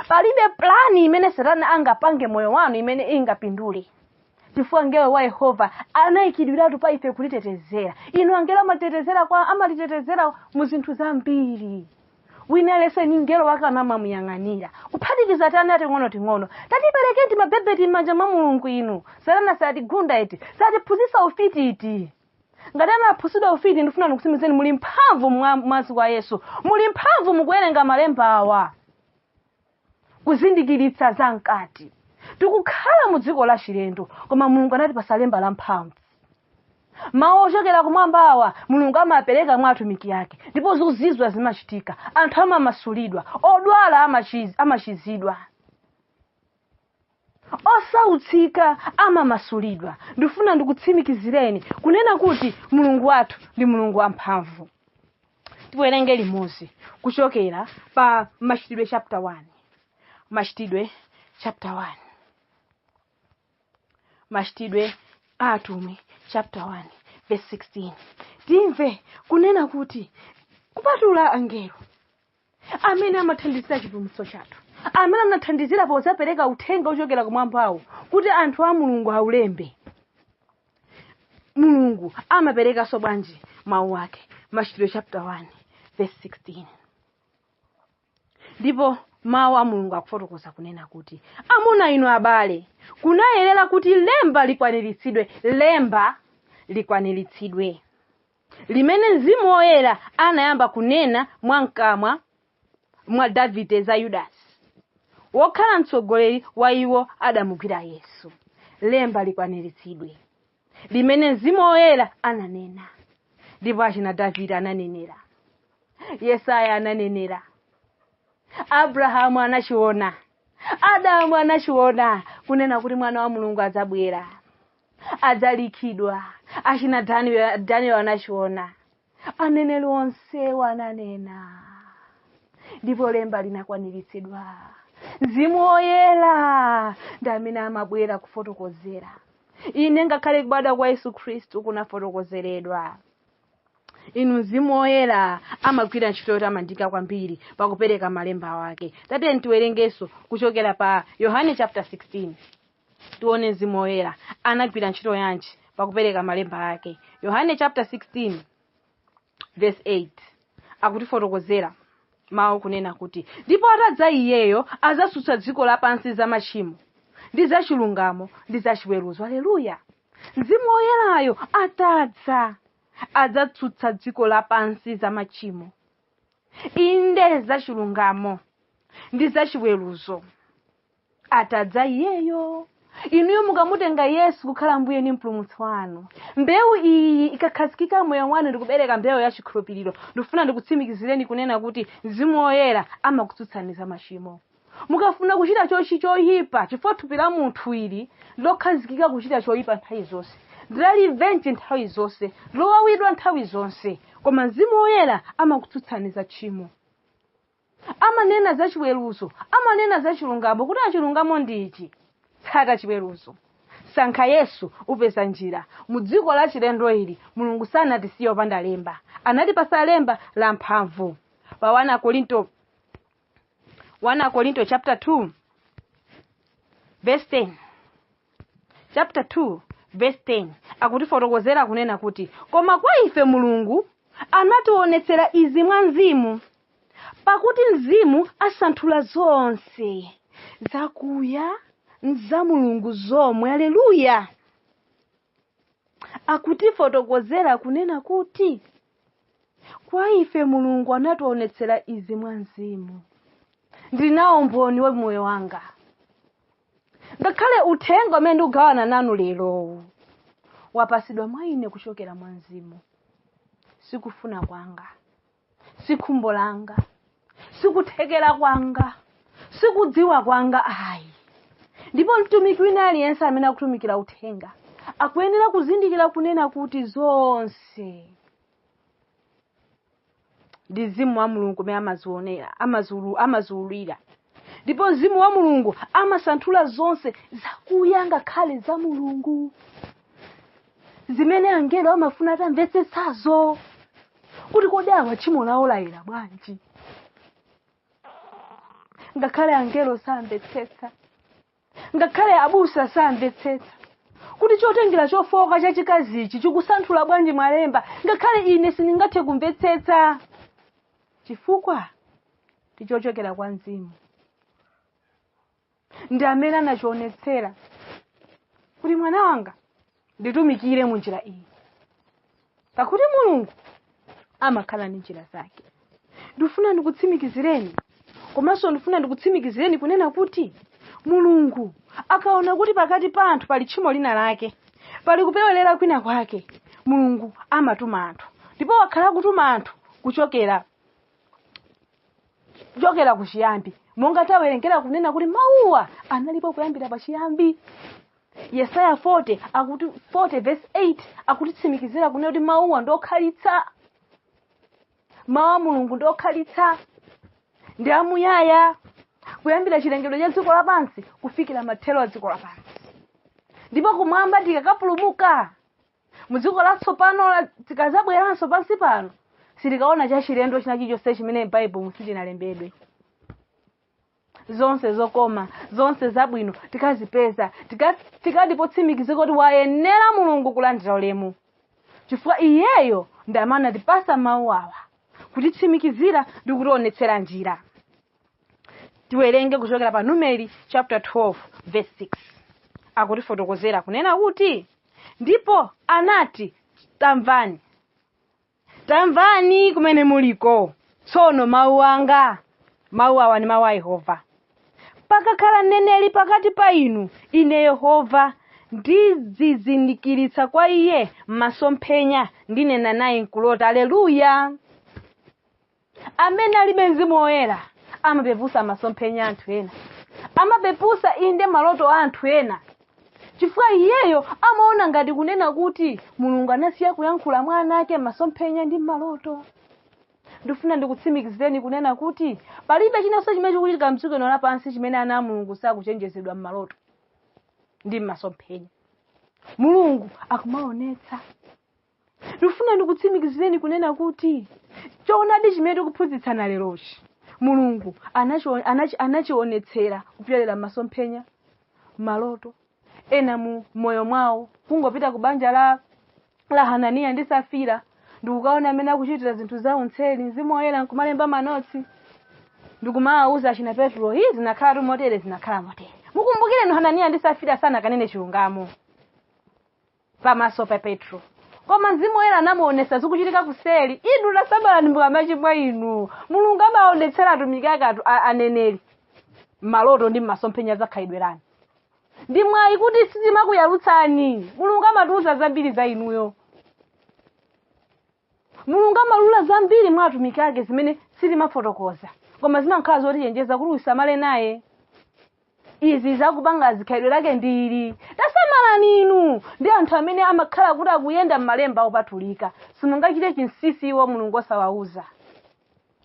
palibe plani imene satana angapange moyo wanu imene ingapindule chifukwa mngelo wa yehova anayikidwiratu pa ife kutitetezera inu angelo amatetezera kwa amatitetezera mu zinthu zambiri wina aliyense ali ni mngelo wake amamuyang'anira kuphatikiza tiana ting'onoting'ono tatiperekeni timabebeti m'manja mwa mulungu inu satana satigunda iti satiphunzitsa ufiti iti ngati anaphunzitsidwa ufiti ndifuna ndikusimizeni muli mphamvu mu mwazi wa yesu muli mphamvu mukuwerenga malemba awa kuzindikiritsa za mkati tikukhala mu dziko la chilendo koma mulungu anatipasa lemba la mphamvu mawu ochokera kumwambawa mulungu amapereka mwa atumiki ake ndipo zozizwa zimachitika anthu amamasulidwa odwala amachiz- amachizidwa osautsika amamasulidwa ndifuna ndikutsimikizireni kunena kuti mulungu wathu ndi mulungu wamphamvu tiwerenge limodzi kuchokera pa machitidwe chapter 1 machitidwe chapter 1 machitidwe a atumwi chapter 1 verse 16 timve kunena kuti kupatula angelo amene amathandizira chipulumutso chathu amene anathandizira pozapereka uthenga wochokera kumwambawo kuti anthu a mulungu aulembe mulungu amaperekanso bwanji mawu ake machitidwe chapter 1 verse 16 ndipo mawu a mulungu akufotokoza kunena kuti amuna inu abale kunayenera kuti lemba likwaniritsidwe lemba likwaniritsidwe limene Mzimu Woyera anayamba kunena mwa mkamwa mwa Davide za Yudasi, wokhala mtsogoleri wa iwo adamugwira Yesu. Lemba likwaniritsidwe, limene Mzimu Woyera ananena, ndipo achina Davide ananenera, Yesaya ananenera, Abrahamu anachiona, Adamu anachiona, kunena kuti mwana wa Mulungu adzabwera. adzapachikidwa achina daniel daniel anachiona aneneri onsewo ananena ndipo lemba linakwaniritsidwa mzimu woyera ndi amene amabwera kufotokozera ine ngakhale kubadwa kwa yesu khristu kunafotokozeredwa inu mzimu woyera amagwira ntchito yotamandika kwambiri pakupereka malemba wake tatiyeni tiwerengenso kuchokera pa yohane chapter 16 Tione Mzimu Woyera anagwira ntchito yanji pakupereka malemba ake. Yohane chapter 16 verse 8 akutifotokozera mawu kunena kuti ndipo atadza iyeyo adzatsutsa dziko lapansi za machimo ndi za chilungamo ndi za chiweruzo aleluya mzimu woyerayo atadza adzatsutsa dziko lapansi za machimo inde za chilungamo ndi za chiweruzo atadza iyeyo inuyo mukamutenga yesu kukhala mbuye ndi mpulumutsi wanu mbewu iyi ikakhazikika moyo mwanu ndikubereka mbewu ya chikhulupiriro ndikufuna ndikutsimikizireni kunena kuti mzimu woyera amakutsutsani za machimo mukafuna kuchita chochi choyipa chifukwa thupi la munthu ili lokhazikika kuchita choyipa nthawi zonse ndilalivenji nthawi zonse lowawidwa nthawi zonse koma mzimu woyera amakutsutsani za tchimo amanena za chiweruzo amanena za chilungamo kuti chilungamo ndi ichi tsata chiweruzo sankha yesu upeza njira mu dziko la chilendo ili mulungu sanatisiye opanda lemba anatipasa lemba la mphamvu pa 1 akorinto 1 akorinto chapter 2 verse 10 chapter 2 verse 10 akutifotokozera kunena kuti koma kwa ife mulungu anationetsera izi mwa mzimu pakuti mzimu asanthula zonse zakuya za mulungu zomwe aleluya akutifotokozera kunena kuti kwa ife mulungu anationetsera izi mwa mzimu ndinawo umboni wa moyo wanga ngakhale uthenga umene ndikugawana nanu lerowu wapasidwa mwa ine kuchokera mwa mzimu sikufuna kwanga sikhumbo langa sikuthekera kwanga sikudziwa kwanga ayi ndipo mtumiki wina aliyense amene akutumikira uthenga akuyenera kuzindikira kunena kuti zonse ndi mzimu wa mulungu umene amazionera amaziulu- amaziululira ndipo mzimu wa mulungu amasanthula zonse zakuya ngakhale za mulungu zimene angelo amafuna atamvetsetsazo kuti kodi awa tchimo lawo layera bwanji ngakhale angelo samvetsetsa ngakhale abusa samvetsetsa kuti chotengera chofowoka chachikazichi chikusanthula bwanji malemba ngakhale ine sindingathe kumvetsetsa chifukwa ndichochokera kwa mzimu ndi amene anachionetsera kuti mwana wanga nditumikire mu njira iyi pakuti mulungu amakhala ndi njira zake ndifuna ndikutsimikizireni komanso ndifuna ndikutsimikizireni kunena kuti mulungu akaona kuti pakati pa anthu pali tchimo lina lake pali kupewerera kwina kwake mulungu amatuma anthu ndipo wakhala akutuma anthu kuchokera kuchiyambi monga tawerengera kunena kuti mawuwa analipo kuyambira pachiyambi yesaya 40 akuti 40 verse 8 akutitsimikizira kunena kuti mawuwa ndi okhalitsa mawu a mulungu ndi okhalitsa ndi amuyaya kuyambira chilengedwe cha dziko lapansi kufikira mathero a dziko lapansi ndipo kumwamba tikakapulumuka mu dziko latsopano tikazabweranso pansi pano sitikaona chachilendo china chilichonse chimene m'baibulo silinalembedwe zonse zokoma zonse zabwino tikazipeza tikati potsimikizika kuti wayenera mulungu kulandira ulemu chifukwa iyeyo ndi amene anatipasa mawu awa kutitsimikizira ndi kutionetsera njira tiwerenge kuchokera pa numeri chapter 12 verse 6 akutifotokozera kunena kuti ndipo anati tamvani tamvani kumene muliko tsono mawu anga mawu awa ndi mawu a yehova pakakhala mneneri pakati pa inu ine yehova ndizizindikiritsa kwa iye m'masomphenya ndinena naye mkulota aleluya amene alibe mzimu woyera amapepusa masomphenya a anthu ena amapepusa inde maloto a anthu ena chifukwa iyeyo amaona ngati kunena kuti mulungu anasiya kuyankhula mwa ana ake m'masomphenya ndi m'maloto ndifuna ndikutsimikizireni kunena kuti palibe chinanso chimene chikuchitika mdziko lino lapansi chimene ana a mulungu sakuchenjezedwa m'maloto ndi m'masomphenya mulungu akumaonetsa ndikufuna ndikutsimikizireni kunena kuti choonadi chimene tikuphunzitsana lerochi mulungu anachionetsera kupyolera m'masomphenya maloto ena mu moyo mwawo kungopita ku banja la hananiya ndi safira ndikukaona amene akuchitira zinthu zawo mtseri mzimu woyera nkumalemba manotsi ndikumawawuza achina petro izi zinakhala tu motere zinakhala motere mukumbukireni hananiya ndi safira sanakanene chilungamo pamaso pa petro koma mzimu woyera anamuonesa zikuchitika kuseli inu tasamalani mukamachimwa inu mulungu amaonetsera atumiki ake atu- a- aneneri maloto ndi masomphenya za khalidwe lanu ndi mwayi kuti sitimakuyalutsani mulungu amatiuza zambiri za inuyo mulungu amalula zambiri mwa atumiki ake zimene sitimafotokoza koma zimakhala zotichenjeza kuti usamale naye izi zakupanga khalidwe lake ndi ili tasamalani inu ndi anthu amene amakhala kuti akuyenda m'malemba opatulika simungachite chinsinsi iwo mulungu osawauza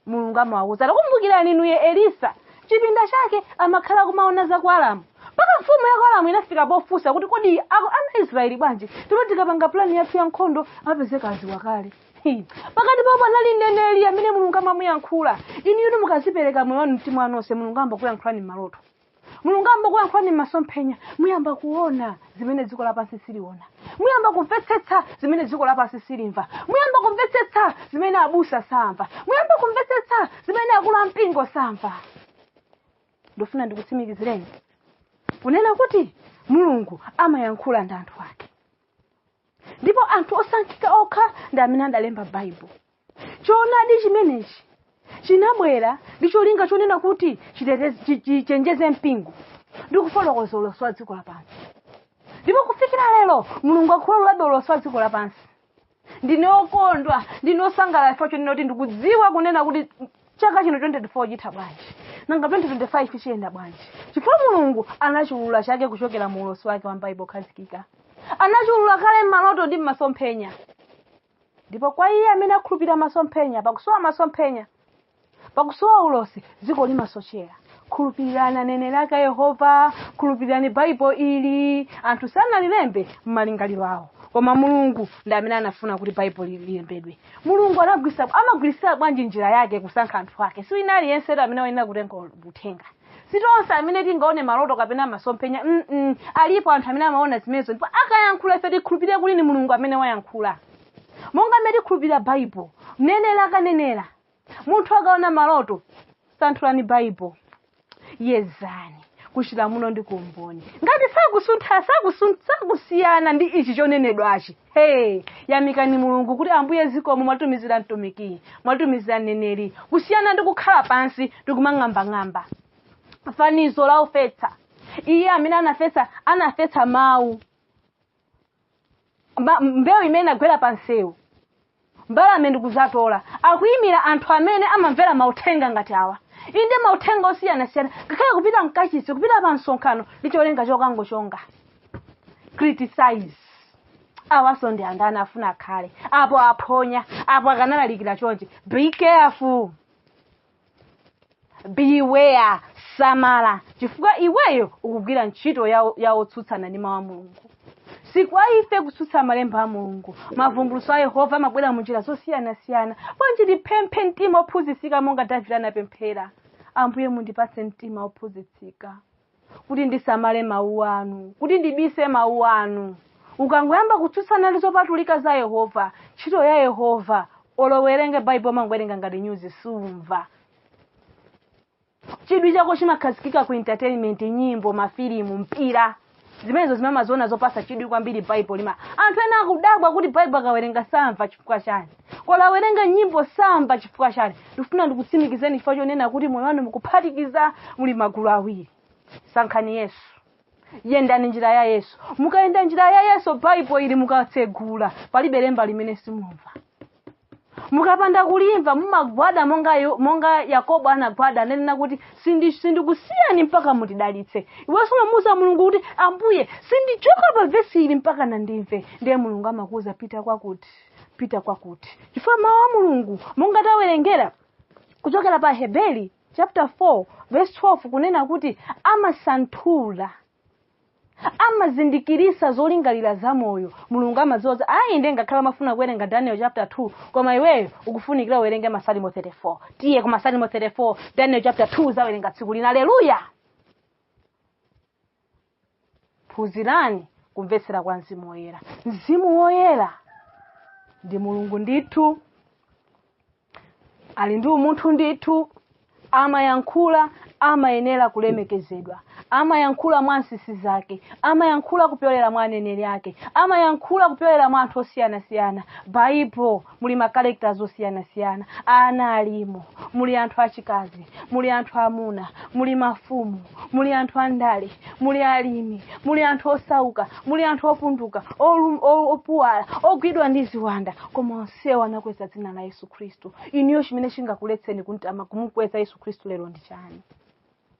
mulungu amawauza takumbukirani inuyo elisa chipinda chake amakhala kumaona za ku aramu mpaka mfumu ya ku aramu inafika pofunsa kuti kodi ana israeli bwanji ndipo tikapanga pulani yathu ya nkhondo amapezeka adziwa kale pakati pawo panali mneneri amene mulungu amamuyankhula inuyo mukadzipereka moyo wanu mtima wanu onse mulungu ayamba kuyankhulani m'maloto mulungu ayamba kuyankhulani m'masomphenya muyamba kuona zimene dziko lapansi siliona muyamba kumvetsetsa zimene dziko lapansi silimva muyamba kumvetsetsa zimene abusa samva muyamba kumvetsetsa zimene akulu ampingo samva ndofuna ndikutsimikizireni kunena kuti mulungu amayankhula ndi anthu ake ndipo anthu osankhika okha ndi amene adalemba baibulo choonadi chimenechi chinabwera ndi cholinga chonena kuti chiteteze- chi- chichenjeze mpingo ndi kufotokoza ulosi wa dziko lapansi ndipo kufikira lero mulungu akuululabe ulosi wa dziko lapansi ndine okondwa ndine osangalala chifukwa chonena kuti ndikudziwa kunena kuti chaka chino 24 chitha bwanji nanga 2025 chiyenda bwanji chifukwa mulungu anachiulula kale kuchokera mu ulosi wake wa m'baibulo khazikika anachiulula kale m'maloto ndi m'masomphenya ndipo kwa iye amene akhulupirira masomphenya pakusowa masomphenya pakusowa ulosi dziko limasochera khulupirirani aneneri ake a yehova khulupirirani baibulo ili anthu sanalilembe m'malingaliro awo koma mulungu ndi amene anafuna kuti baibulo lilembedwe mulungu anagwiritsa amagwiritsira bwanji njira yake kusankha anthu ake si wina aliyense amene wayenera kutenga uthenga si tonse amene tingaone maloto kapena masomphenya mm alipo anthu amene amaona zimenezo ndipo akayankhula ife tikhulupirire kuti ni mulungu amene wayankhula monga mmene tikhulupirira baibulo mneneri akanenera munthu akaona maloto santhulani baibulo yezani kuchilamulo ndi kumboni ngati sakusuntha sakusun- sakusiyana ndi ichi chonenedwachi hey yamikani mulungu kuti ambuye zikomo mwatumizira mtumiki mwatumizira mneneri kusiyana ndi kukhala pansi ndikumang'ambang'amba fanizo la wofetsa iye amene anafetsa anafetsa mawu Ma- mbewu imene inagwera pa msewu mbalame ndi kudzatola akuyimira anthu amene amamvera mauthenga ngati awa inde mauthenga osiyanasiyana ngakhale kupita mkachisi kupita pa msonkhano ndi cholinga chokangochonga criticize awaso ndi andani afuna akhale apo aphonya apo akanalalikira chonchi be careful beware samala chifukwa iweyo ukugwira ntchito ya, ya otsutsana ndi mawu a mulungu si kwa ife kutsutsa malemba a mulungu mavumbulutso a yehova amabwera mu njira zosiyanasiyana bwanji tipemphe mtima ophunzitsika monga davide anapemphera ambuye mundipatse mtima ophunzitsika kuti ndisamale mawu anu kuti ndibise mawu anu ukangoyamba kutsutsana ndi zopatulika za yehova ntchito ya yehova olo uwerenge baibulo umangowerenga ngati nyuzi sumva chidwi chako chimakhazikika ku entertainment nyimbo mafilimu mpira zimenezo zimene umaziona zopasa chidwi kwambiri baibulo lima anthu ena akudabwa kuti baibulo akawerenga samva chifukwa chani olo awerenga nyimbo samva chifukwa chani ndikufuna ndikutsimikizeni chifukwa chonena kuti moyo wanu mukuphatikiza muli magulu awiri sankhani yesu yendani njira ya yesu mukayenda njira ya yesu baibulo ili mukatsegula palibe lemba limene simumva mukapanda kulimva mumagwada monga, yo- monga yakobo anagwada ananena kuti "Sindi- sindikusiyani mpaka mutidalitse iwenso umamuuza mulungu kuti ambuye sindichoka pa vesi ili mpaka ndimve ndiye mulungu amakuuza pita kwakuti pita kwakuti chifukwa mawu a mulungu monga tawerengera kuchokera pa heberi chapter 4 verse 12 kunena kuti amasanthula amazindikirisa zolingalira za moyo mulungu amadziwa kuti ayi nde ngakhale umafuna kuwerenga daniel chapter 2 koma iweyo ukufunikira uwerenge masalimo 34 tiye ku masalimo 34 daniel chapter 2 uzawerenga tsiku lina aleluya phunzirani kumvetsera kwa mzimu woyera mzimu woyera ndi mulungu ndithu ali ndi umunthu ndithu amayankhula amayenera kulemekezedwa amayankhula mwa nsisi zake amayankhula kupyolera mwa aneneri ake amayankhula kupyolera mwa anthu osiyanasiyana baibulo muli ma characters osiyanasiyana ana alimo muli anthu achikazi muli anthu amuna muli mafumu muli anthu andale muli alimi muli anthu osauka muli anthu opunduka olum- o- opuwala ogwidwa ndi ziwanda koma onsewo anakweza dzina la yesu khristu inuyo chimene chingakuletseni kumtama kumukweza yesu khristu lero ndi chani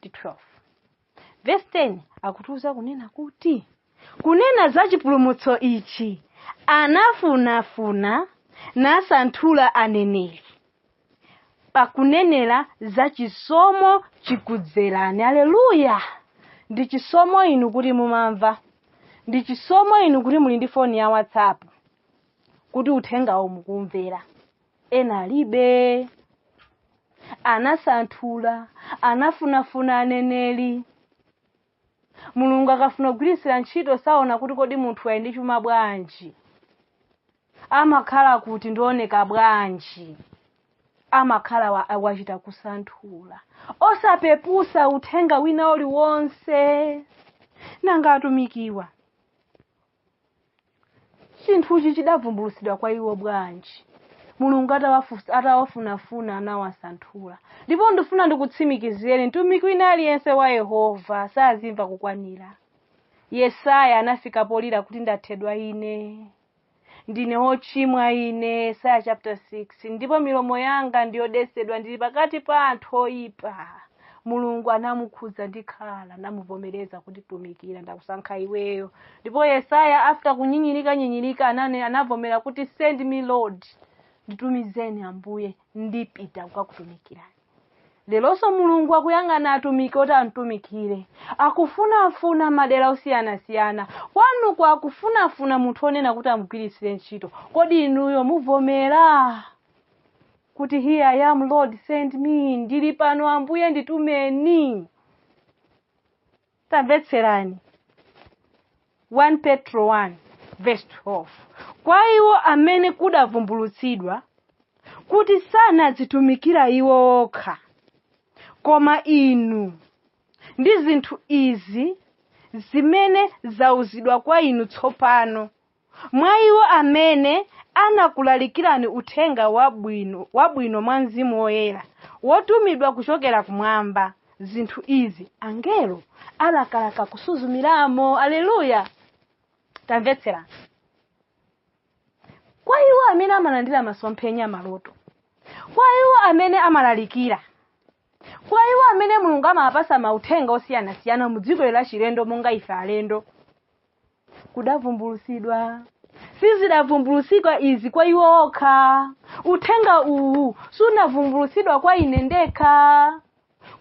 to 12 vesi 10 akutiuza kunena kuti kunena za chipulumutso ichi anafunafuna nasanthula aneneri pakunenera za chisomo chikudzerani aleluya ndi chisomo inu kuti mumamva ndi chisomo inu kuti muli ndi foni ya whatsapp kuti uthengawo mukuumvera ena alibe anasanthula anafunafuna aneneri mulungu akafuna kugwiritsira ntchito saona kuti kodi munthu ali ndi chuma bwanji amakhala kuti ndioneka bwanji amakhala wachita kusanthula osapepusa uthenga wina uliwonse nanga atumikiwa chinthuchi chidavumbulutsidwa kwa iwo bwanji mulungu atawafunafuna anawasanthula ndipo ndifuna ndikutsimikizireni mtumiki wina aliyense wa yehova sazimva kukwanira yesaya anafika polira kuti ndathedwa ine ndine wochimwa ine yesaya chapter 6 ndipo milomo yanga ndiyodesedwa ndili pakati pa anthu oyipa mulungu anamukhudza ndi khala namuvomereza kuti tumikira ndakusankha iweyo ndipo yesaya after kunyinyirika nyinyirika anavomera kuti send me lord nditumizeni ambuye ndipita kukakutumikirani leronso mulungu akuyang'ana atumiki oti amtumikire akufunafuna madera osiyanasiyana kwanuko akufunafuna munthu onena kuti amugwiritsire ntchito kodi inuyo muvomera kuti here i am lord send me ndili pano ambuye nditumeni tamvetserani 1 petro 1 verse 12 kwa iwo amene kudavumbulutsidwa kuti sanadzitumikira iwo okha koma inu ndi zinthu izi zimene zauzidwa kwa inu tsopano Mwa iwo amene anakulalikirani uthenga wabwino mwa Mzimu Woyera, wotumidwa kuchokera kumwamba, zinthu izi angelo alakalaka kusuzumiramo. Aleluya! Tamvetserani. Kwa iwo amene amalandira masomphenya, maloto, kwa iwo amene amalalikira, kwa iwo amene mulungu amawapasa mauthenga osiyanasiyana mu dziko la chilendo monga ife alendo kudavumbulusidwa sizidavumbulusidwa izi kwa iwo okha uthenga uwu sunavumbulusidwa kwa ine ndekha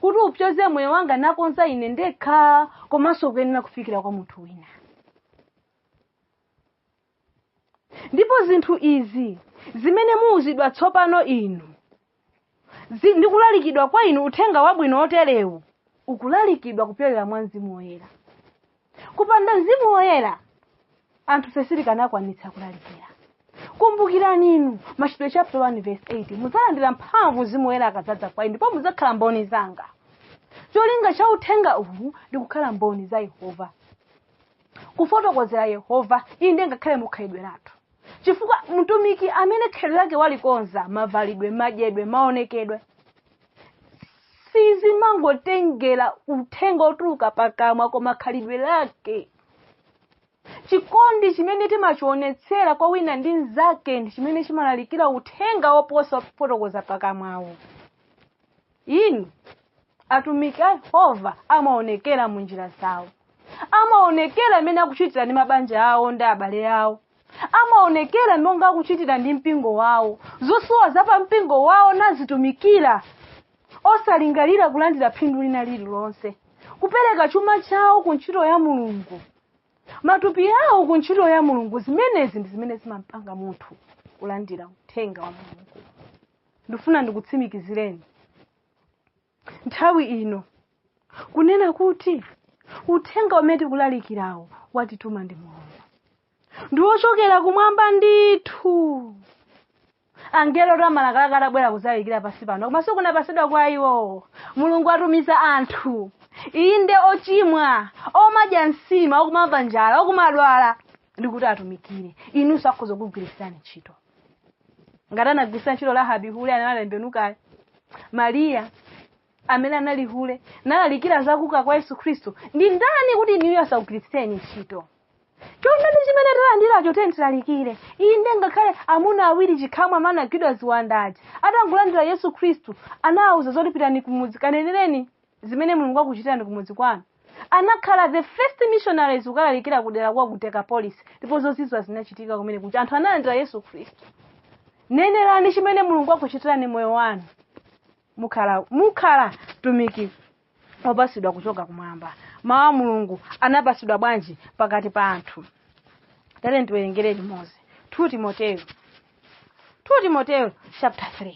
kuti upyoze moyo wanga nakonza ine ndekha komanso kuyenera kufikira kwa munthu wina ndipo zinthu izi zimene muuzidwa tsopano inu zi- ndi kulalikidwa kwa inu uthenga wabwino woterewu ukulalikidwa kupyolera mwa mzimu woyera kupanda mzimu woyera anthufe sitikanakwanitsa kulalikira kumbukirani inu machitidwe chapter 1 verse 8 mudzalandira mphamvu mzimu woyera akadzadza kwa inu ndipo mudzakhala mboni zanga cholinga cha uthenga uwu ndi kukhala mboni za yehova kufotokozera yehova inde ngakhale mukhalidwe lathu chifukwa mtumiki amene khalidwe lake walikonza mavalidwe madyedwe maonekedwe sizimangotengera uthenga otuluka pakamwa koma khalidwe lake chikondi chimene timachionetsera kwa wina ndi mnzake ndi chimene chimalalikira uthenga woposa kufotokoza pakamwawo inu atumiki a yehova amaonekera mu njira zawo amaonekera mmene akuchitira ndi mabanja awo ndi abale awo amaonekera monga akuchitira ndi mpingo wawo zosowa za pa mpingo wawo nazitumikira osalingalira kulandira phindu lina lililonse kupereka chuma chawo ku ntchito ya mulungu matupi awo ku ntchito ya mulungu zimenezi ndi zimene zimampanga munthu kulandira uthenga wa mulungu ndifuna ndikutsimikizireni nthawi ino kunena kuti uthenga umene tikulalikirawo watituma ndi mulungu ndi wochokera kumwamba ndithu angelo oti amalakalaka atabwera kuzalalikira pasi pano koma sikunapasidwa kwa iwo mulungu watumiza anthu inde ochimwa omadya nsima okumamva njala okumadwala ndikuti atumikire inunso akhoza kugwirisirani ntchito ngati anagwiritsa ntchito rahabi hule nalambe mkale mariya amene anali hule nalalikira za kuuka kwa yesu khristu ndi ndani kuti inuyo asakugwiritseni ntchito choonadi chimene talandiracho tiyeni tilalikire inde ngakhale amuna awiri chikhamu a amene anagwidwa ziwanda aja atangolandira yesu khristu anawauza zoti pitani kumudzi kanenereni zimene mulungu akuchitirani kumudzi kwanu anakhala the first missionaries kukalalikira kudera kwa ku dekapolisi ndipo zozizwa zinachitika kumene kuti anthu analandira yesu khristu nenerani chimene mulungu akuchitirani mmoyo wanu mukhala mukhala mtumiki wopasidwa kuchoka kumwamba mawu a mulungu anapasidwa bwanji pakati pa anthu tate ndiwerengere limodzi 2 timoteyo 2 timoteyo chapter 3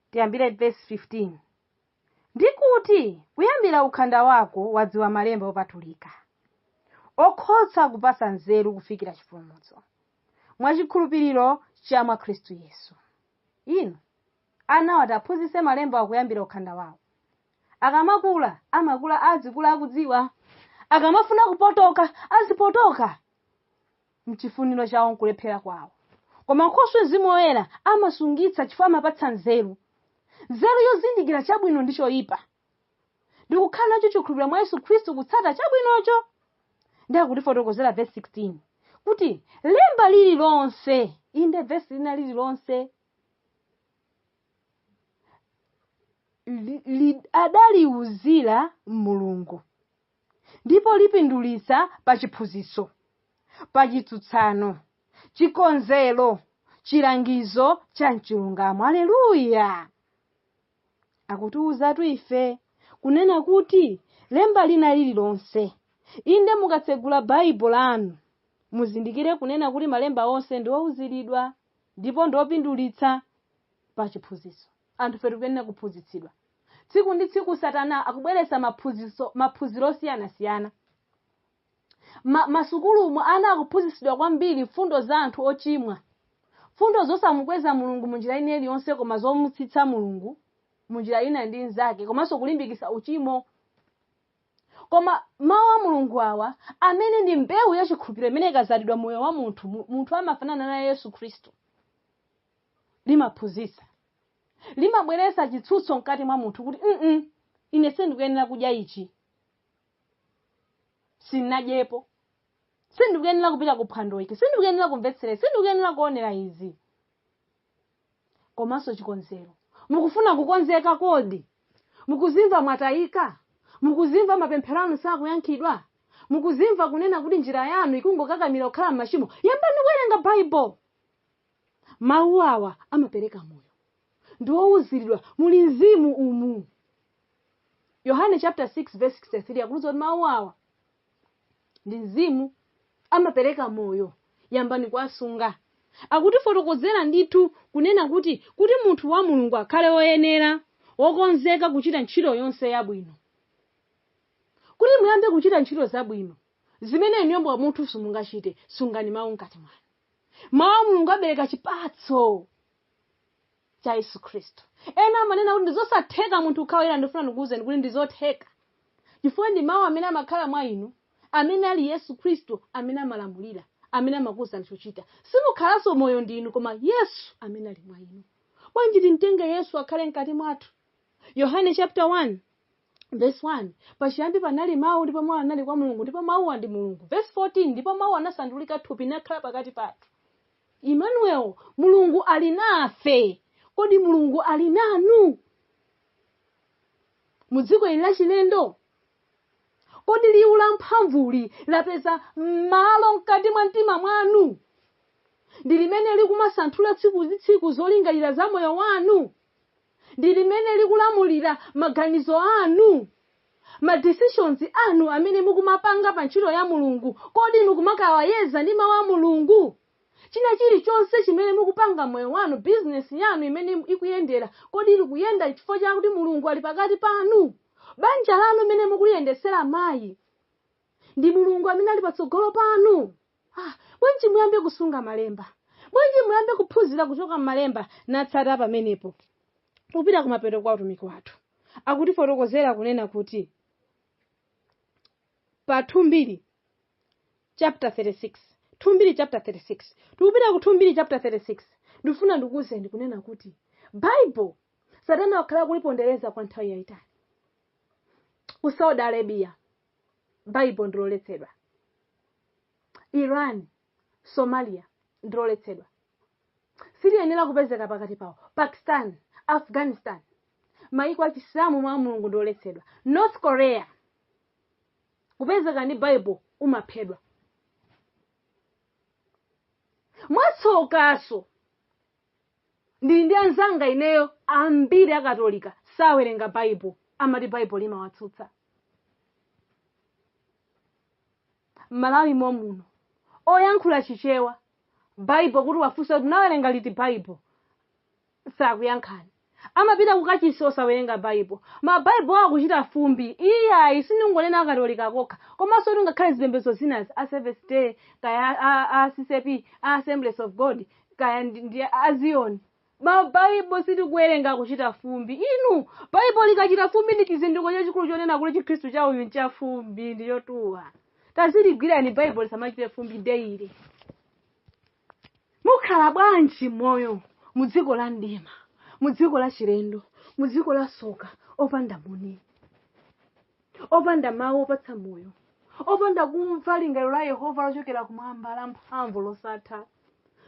Tiyambire vesi 15. Ndi kuti kuyambira ukhanda wako wadziwa malemba opatulika, okhoza kupatsa nzeru kufikira chipulumutso, mwa chikhulupiriro cha mwa Khristu Yesu. Inu anawa tiaphunzitse malembawa kuyambira ukhanda wawo. Akamakula, amakula azikula akudziwa. Akamafuna kupotoka, azipotoka. mchifuniro chawo nkulephera kwawo. Koma nkhoswe Mzimu Woyera amasungitsa chifukwa amapatsa nzeru. Nzeru yozindikira chabwino ndi choyipa. Ndikukhala nacho chikhulupiriro mwa Yesu Khristu kutsata chabwinocho. Ndi akutifotokozera verse 16 kuti lemba lililonse inde verse lina lililonse li- li- adaliuzira Mulungu. ndipo lipindulitsa pa chiphunzitso, pa chitsutsano, chikonzero, chilangizo cha mchilungamo. Aleluya! Akutiwuzatu ife kunena kuti lemba lina lililonse, inde mukatsegula Baibulo lanu, muzindikire kunena kuti malemba onse ndi owuziridwa ndipo ndi opindulitsa pa chiphunzitso. Anthufetu tikuyenera kuphunzitsidwa. Tsiku ndi tsiku Satana akubweretsa maphunzitso, maphunziro osiyanasiyana. Ma, masukulumu ana akuphunzitsidwa kwambiri mfundo za anthu ochimwa, mfundo zosamukweza Mulungu mu njira ina iliyonse, koma zomutsitsa Mulungu mu njira ina ndi nzake, komanso kulimbikitsa uchimo. Koma mawu a Mulungu awa amene ndi mbewu ya chikhulupiriro imene ikazalidwa moyo wa munthu, mu- munthu amafanana naye Yesu Khristu. limaphunzitsa limabweretsa chitsutso mkati mwa munthu kuti mm ine sindikuyenera kudya ichi sinadyepo sindikuyenera kupita ku phwando ili sindikuyenera kumvetsera izi, sindikuyenera kuonera izi komanso chikonzero mukufuna kukonzeka kodi mukuzimva mwatayika mukuzimva mapemphero anu sakuyankhidwa mukuzimva kunena kuti njira yanu ikungokakamira kukhala m'machimo yambani kuwerenga Bible Mawu awa amapereka moyo, ndi owuziridwa, muli mzimu umu. Yohane chapter 6 verse 63 akutiuza kuti mawu awa ndi mzimu amapereka moyo, yambani kuwasunga. Akutifotokozera ndithu kunena kuti kuti munthu wa Mulungu akhale woyenera, wokonzeka kuchita ntchito yonse yabwino. Kuti muyambe kuchita ntchito zabwino zimene inuyo mwa munthu simungachite, sungani mawu mkati mwanu. mawu a mulungu abereka chipatso cha yesu khristu ena amanena kuti ndizosatheka munthu kukhala woyera ndifuna ndikuwuzeni kuti ndizotheka chifukwa ndi mawu amene amakhala mwa inu amene ali yesu khristu amene amalamulira amene amakuwuzani chochita simukhalanso moyo ndi inu koma yesu amene ali mwa inu bwanji timtenge yesu akhale mkati mwathu yohane chapter 1 Verse 1 pachiyambi panali mawu ndipo mawu anali kwa mulungu ndipo mawuwa ndi mulungu verse 14 ndipo mawu anasandulika thupi nakhala pakati pathu emmanuel mulungu ali nafe kodi mulungu ali nanu mu dziko ili lachilendo kodi liwu la mphamvuli lapeza malo mkati mwa mtima mwanu ndi limene likumasanthula tsiku ndi tsiku zolingalira za moyo wanu ndi limene likulamulira maganizo anu? Ma decisions anu amene mukumapanga pa ntchito ya Mulungu, kodi mukumakawayeza ndi mau a Mulungu? China chilichonse chimene mukupanga mmoyo wanu, business yanu imene ikuyendera, kodi ili kuyenda chifukwa chakuti Mulungu ali pakati panu? Banja lanu mmene mukuliyendetsera mayi, ndi mulungu amene ali patsogolo panu bwanji muyambe kusunga malemba bwanji muyambe kuphunzira kuchoka m'malemba natsata pamenepo tikupita kumapeto kwa utumiki wathu akutifotokozera kunena kuti pa 2 mbiri chapter 36 2 mbiri chapter 36 tikupita ku 2 mbiri chapter 36 ndifuna ndikuwuzeni kunena kuti bible satana wakhala akulipondereza kwa nthawi yayitali ku saudi arabia baibo ndiloletsedwa iran somalia ndiloletsedwa siliyenera kupezeka pakati pawo pakistan afghanistan maiko achisilamu mawu a mulungu ndi oletsedwa north korea kupezeka ndi baibo umaphedwa mwatsokaso Ndili ndi anzanga ineyo ambiri a Katolika sawerenga Bible, amati Bible limawatsutsa. M'Malawi momuno, oyankhula Chichewa, Bible kuti uwafunse kuti unawerenga liti Bible? Sakuyankhani. Amapita kukachisi osawerenga Bible. Ma Bible akuchita fumbi. Iyayi, sindingonena a Katolika kokha, komanso kuti ngakhale zipembedzo zinazi, a Seventh Day, kaya a, a, a CCP, a Assemblies of God, kaya ndi, ndi a ziyoni ma baibo sitikuwerenga kuchita fumbi inu baibo likachita fumbi ndi chizindiko chachikulu chonena kuti chikhristu cha uyu ncha fumbi ndi chotuwa taziligwirani baibo lisamachite fumbi daily mukhala bwanji moyo mu dziko la mdima mu dziko la chilendo mu dziko la soka opanda muni opanda mawu opatsa moyo opanda kumva lingaliro la yehova lochokera kumwamba la mphamvu losatha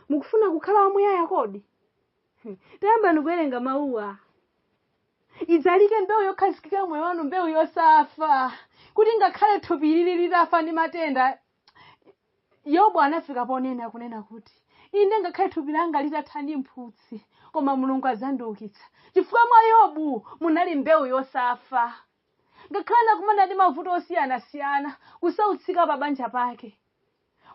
mukufuna kukhala wamuyaya kodi tayambani kuwerenga mawuwa idzalike mbewu yokhazikika mmoyo wanu mbewu yosafa kuti ngakhale thupi lili litafa ndi matenda yobu anafika ponena kunena kuti inde ngakhale thupi langa litatha ndi mphutsi koma mulungu adzandiukitsa chifukwa mwa yobu munali mbewu yosafa ngakhale anakumana ndi mavuto osiyanasiyana kusautsika pa banja pake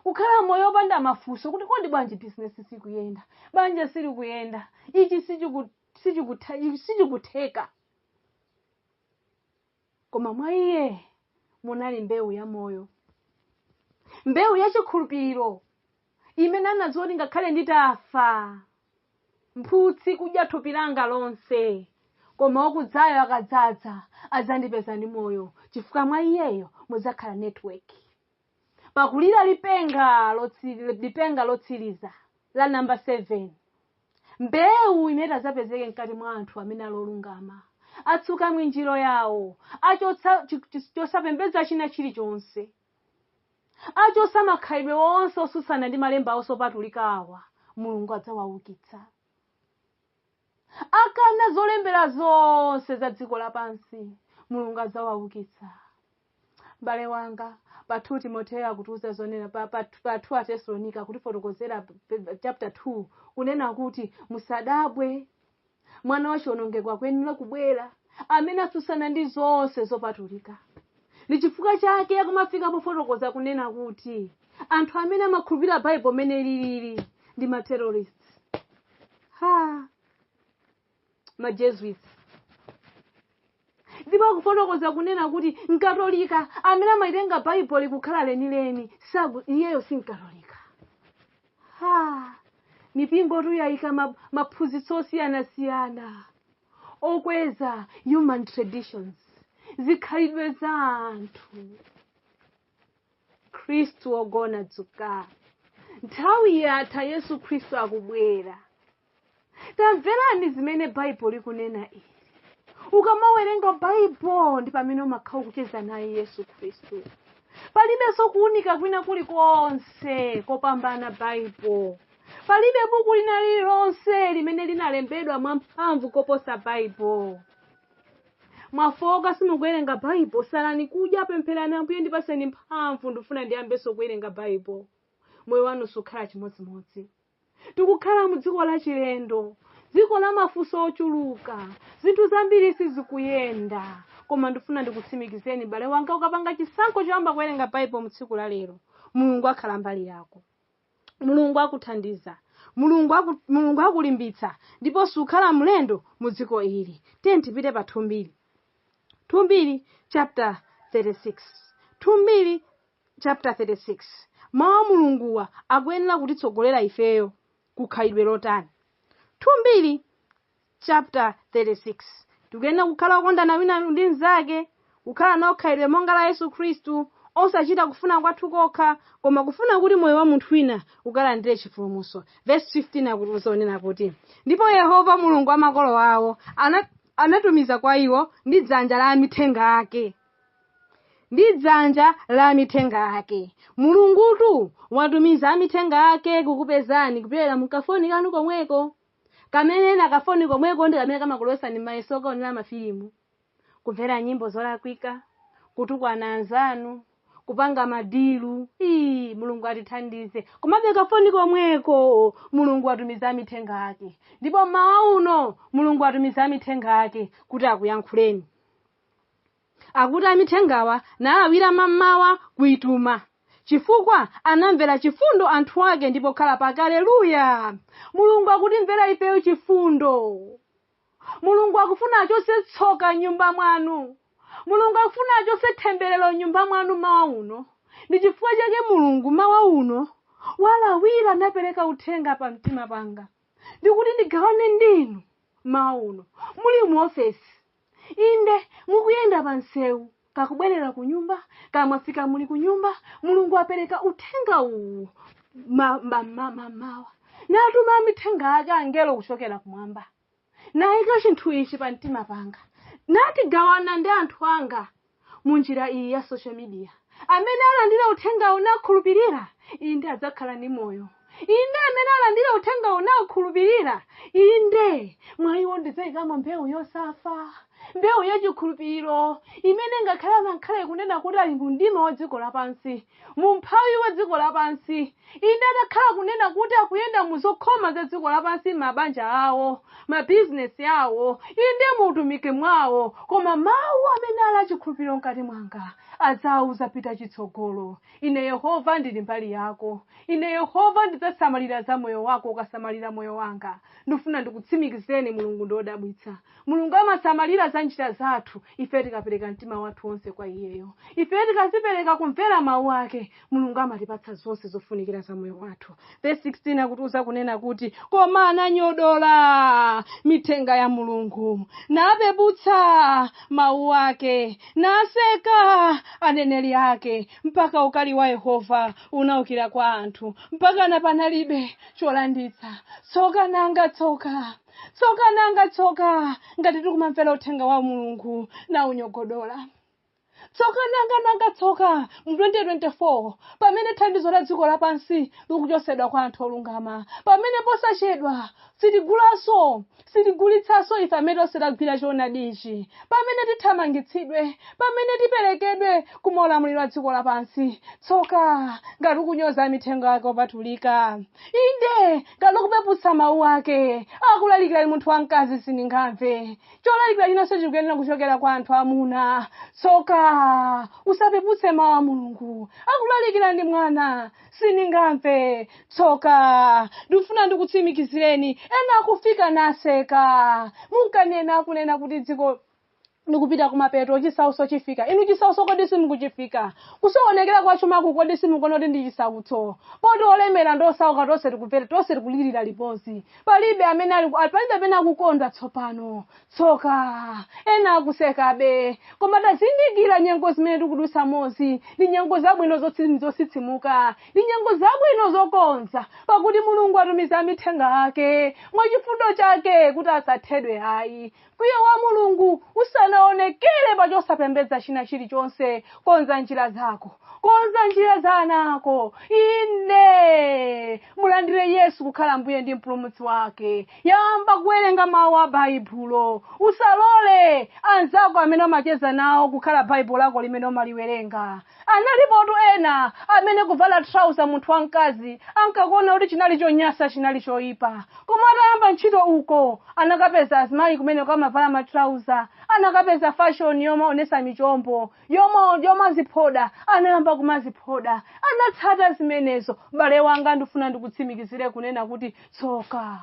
kukhala moyo opanda mafunso kuti kodi bwanji bizinesi sikuyenda banja silikuyenda ichi sichiku- sichikutha- ichi sichikutheka koma mwa iye munali mbewu ya moyo mbewu ya chikhulupiriro imene anadziwa kuti ngakhale nditafa mphutsi kudya thupi langa lonse koma wakudzayo akadzadza adzandipeza ndi moyo chifukwa mwa iyeyo mudzakhala network pakulira lipenga lotsiri- lipenga lotsiriza la namba 7 mbewu imene itadzapezeke mkati mwa anthu amene ali olungama atsuka mwinjiro yawo achotsa chi- chi- chosapembedza china chilichonse achotsa makhalidwe onse osutsana ndi malemba onse opatulika awa mulungu adzawaukitsa akana zolembera zonse za dziko lapansi mulungu adzawaukitsa m'bale wanga pa 2 timoteyo akutiuza zonena pa, pa, pa 2 atesalonika akutifotokozera p- p- chapter 2 kunena kuti musadabwe mwana wa chiwonongeko akuyenera kubwera amene atsutsana ndi zonse zopatulika ndi chifukwa chake akumafika pofotokoza kunena kuti anthu amene amakhulupirira baibulo mmene lilili ndi ma terrorist ha majesuits ndipo akufotokoza kunena kuti mkatolika amene amaitenga baibuloli kukhala lenileni saku iyeyo si mkatolika ha mipingotu yayika ma- maphunzitso osiyanasiyana okweza human traditions zikhalidwe za anthu mkhristu wogona dzuka nthawi yatha yesu khristu akubwera tamverani zimene baibulo likunena ili ukamawerenga baibulo ndi pamene umakhala ukucheza naye yesu khristu palibenso kuunika kwina kulikonse kopambana baibulo palibe buku lina lililonse limene linalembedwa mwamphamvu koposa baibulo mwafooka simukuwerenga baibulo salani kudya pempherani ambuye ndipatseni mphamvu ndifuna ndiyambenso kuwerenga baibulo moyo wanu sukhala chimodzimodzi tikukhala mu dziko lachilendo dziko la mafunso ochuluka zinthu zambiri sizikuyenda koma ndifuna ndikutsimikizeni m'bale wanga ukapanga chisankho choyamba kuwerenga baibulo mu tsiku la lero mulungu akhala mbali yako mulungu akuthandiza mulungu aku, mulungu akulimbitsa ndipo sukhala mlendo mu dziko ili tiyeni tipite pa 2 mbiri 2 mbiri chapter 36 2 mbiri chapter 36 mawu a mulunguwa akuyenera kutitsogolera ifeyo ku khalidwe lotani 2 mbiri chapter 36 tikuyenera kukhala okondana wina ndi mnzake kukhala nawo khalidwe monga la yesu khristu osachita kufuna kwathu kokha koma kufuna kuti moyo wa munthu wina ukalandire chipulumutso verse 15 akutiuza kunena kuti ndipo yehova mulungu wa makolo awo ana- anatumiza kwa iwo ndi dzanja la amithenga ake ndi dzanja la amithenga ake mulungutu watumiza amithenga ake kukupezani kupyolera mu kafoni kanu komweko kamene na kafoni komweko ndi kamene kamakulowetsani m'mayeso kuonera mafilimu kumvera nyimbo zolakwika kutukwana anzanu kupanga madilu ii mulungu atithandize komabe kafoni komweko mulungu atumiza amithenga ake ndipo mmawa uno mulungu atumiza amithenga ake kuti akuyankhuleni Akuti amithengawa nalawira mammawa kuituma chifukwa anamvera chifundo anthu ake ndi pokhala pake. Aleluya! Mulungu akutimvera ifeyo chifundo. Mulungu akufuna achotse tsoka m'nyumba mwanu. Mulungu akufuna achotse themberero m'nyumba mwanu mmawa uno. Ndi chifukwa chake Mulungu mmawa uno walawira napereka uthenga pa mtima panga ndikuti ndigawane ndinu mmawa uno muli mu ofesi. inde mukuyenda pa msewu kaya kubwerera ku nyumba kaya mwafika muli ku nyumba mulungu apereka uthenga uwu ma- ma- ma- ma- mmawa natuma amithenga ake angelo kuchokera kumwamba nayika chinthu ichi pa mtima panga nati gawana ndi anthu anga mu njira iyi ya social media amene alandira uthengawo nakhulupirira inde adzakhala ndi moyo inde amene alandira uthengawo nakhulupirira inde mwa iwo ndidzayikamo mbewu yosafa mbewu yachikhulupiriro imene ngakhale angakhale kunena kuti ali mu mdima wa dziko lapansi mu umphawi wa dziko lapansi inde atakhala kunena kuti akuyenda mu zokhoma za dziko lapansi m'mabanja awo m'mabizinesi awo inde mu utumiki mwawo koma mawu amene ali achikhulupiriro mkati mwanga adzawauza pita chitsogolo ine yehova ndili mbali yako ine yehova ndidzasamalira za moyo wako ukasamalira moyo wanga ndifuna ndikutsimikizeni mulungu ndi odabwitsa mulungu amasamalira za njira zathu ife tikapereka mtima wathu wonse kwa iyeyo ife tikadzipereka kumvera mawu ake mulungu amatipatsa zonse zofunikira za moyo wathu verse 16 akutiuza kunena kuti koma ananyodola mithenga ya mulungu napeputsa mawu ake naseka aneneri ake mpaka ukali wa yehova unaukira kwa anthu mpaka napanalibe cholanditsa tsoka nanga tsoka tsoka nanga tsoka ngati tikumamvera uthenga wa mulungu na unyogodola tsoka nanga nanga tsoka mu 2024 pamene thandizo la dziko lapansi likuchotsedwa kwa anthu olungama pamene posachedwa sitigulanso sitigulitsanso ife amene tonse tagwira choonadi ichi pamene tithamangitsidwe pamene tiperekedwe ku maulamuliro a dziko lapansi tsoka ngati ukunyoza amithenga yake opatulika inde ngati ukupeputsa mawu ake akulalikira ndi munthu wamkazi sindingamve cholalikira chinanso chikuyenera kuchokera kwa anthu amuna tsoka usapeputse mawu a mulungu akulalikira ndi mwana sindingamve tsoka ndikufuna ndikutsimikizireni ena akufika naseka munkanena akunena kuti dziko ndikupita kumapeto chisautso chifika inu chisautso kodi simukuchidziwa kusokonekera kwa chumaku kodi simukuona kuti ndi chisautso poti olemera ndi osauka tonse tikupera tonse tikulirira limodzi palibe amene ali ali- palibe amene akukondwa tsopano tsoka ena akusekabe koma tazindikira nyengo zimene tikudutsamozi ndi nyengo zabwino zotsi- zositsimuka ndi nyengo zabwino zokonza pakuti mulungu atumiza amithenga ake mwachifundo chake kuti asathedwe ayi Mkwiyo wa Mulungu usanaonekere pa chosapembedza china chilichonse, konza njira zako, konza njira za ana ako. Inde, mulandire Yesu kukhala Mbuye ndi Mpulumutsi wake. Yamba kuwerenga mawu a Baibulo. Usalole anzako amene umacheza nawo kukhala Baibulo lako limene umaliwerenga. Analipotu ena amene kuvala trouser munthu wamkazi ankakuona kuti chinali chonyasa chinali choipa. Koma atayamba ntchito uko anakapeza azimayi kumeneko amavala ma trouser, anakapeza fashion yomaonesa michombo, yoma, yomaziphoda, anayamba kumaziphoda. Anatsata zimenezo. Bale wanga ndifuna ndikutsimikizire kunena kuti tsoka.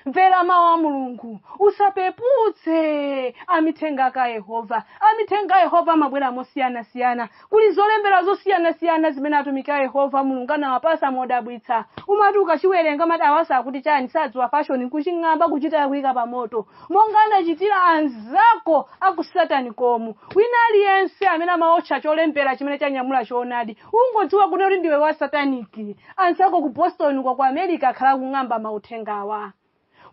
mvera mawu a mulungu usapeputse amithenga ake a yehova amithenga a yehova amabwera mosiyanasiyana kuli zolembera zosiyanasiyana zimene atumiki a yehova mulungu anawapasa modabwitsa umati ukachiwerenga umati awasa akuti chani sadziwa fashoni kuching'amba kuchita kuyika pa moto monga anachitira anzako akusataniki omwe wina aliyense amene amaotcha cholembera chimene chanyamula choonadi ungodziwa kunena kuti ndiwe wa sataniki anzako ku boston kwa ku america akhala akung'amba mauthengawa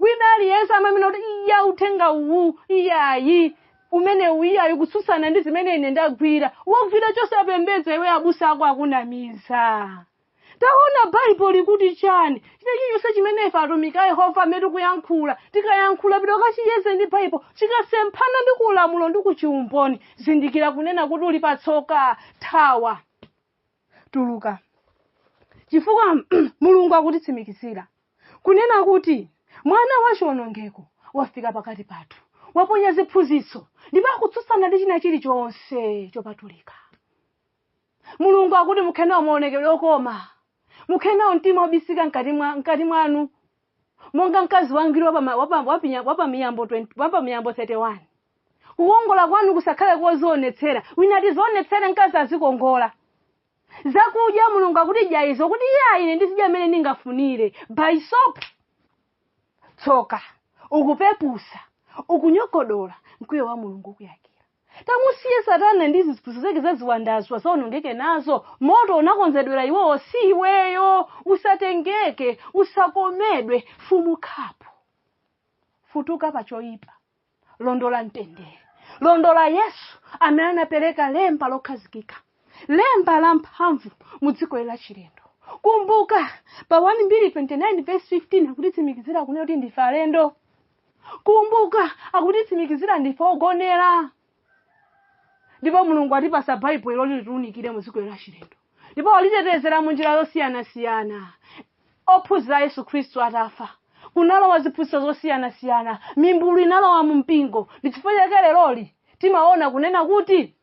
wina aliyense amanena kuti iya uthenga uwu iyayi umene uwu iyayi kutsutsana ndi zimene ine ndagwira wogwira chosapembedza iwe abusa ako akunamiza taona bible likuti chani chilichonse chimene ife atumiki a yehova amene tikuyankhula tikayankhula pita ukachiyeze ndi bible chikasemphana ndi kulamulo ndi kuchiumboni zindikira kunena kuti uli patsoka thawa tuluka chifukwa mulungu akutitsimikizira kunena kuti mwana wa chiwonongeko wafika pakati pathu waponya ziphunzitso ndipo akutsutsana ndi china chilichonse chopatulika mulungu akuti mukhale nawo maonekedwe okoma mukhale nawo mtima wobisika mkati mwa- mkati mwanu monga mkazi wangwiro wa pama- wa pa- wa pinya- wa pa miyambo 20 wa pa miyambo 31 kukongola kwanu kusakhale kozionetsera wina ati zionetsere mkazi azikongola zakudya mulungu akuti dya izo kuti iye ayi ine ndizidya mmene ndingafunire by soap tsoka ukupepusa ukunyogodola mkwiyo wa mulungu ukuyakira Tamusiye satana ndi ziphunzitso zake za ziwandazo azaonongeke nazo, moto unakonzedwera iwowo si iweyo, usatengeke, usakomedwe, fumukhapo, futuka pa choipa, londola mtendere, londola Yesu amene anapereka lemba lokhazikika, lemba la mphamvu mu dziko la chilendo. Kumbuka pa 1 Mbiri 29 vesi 15 akutitsimikizira kunena kuti ndife alendo. kumbuka akutitsimikizira ndife ogonera ndipo mulungu atipasa baibulo ilo loti litiunikire mu dziko lachilendo ndipo walitetezera mu njira zosiyanasiyana ophunzira a yesu khristu atafa kunalowa ziphunzitso zosiyanasiyana mimbulu inalowa mu mpingo ndi chifukwa chake leroli timaona kunena kuti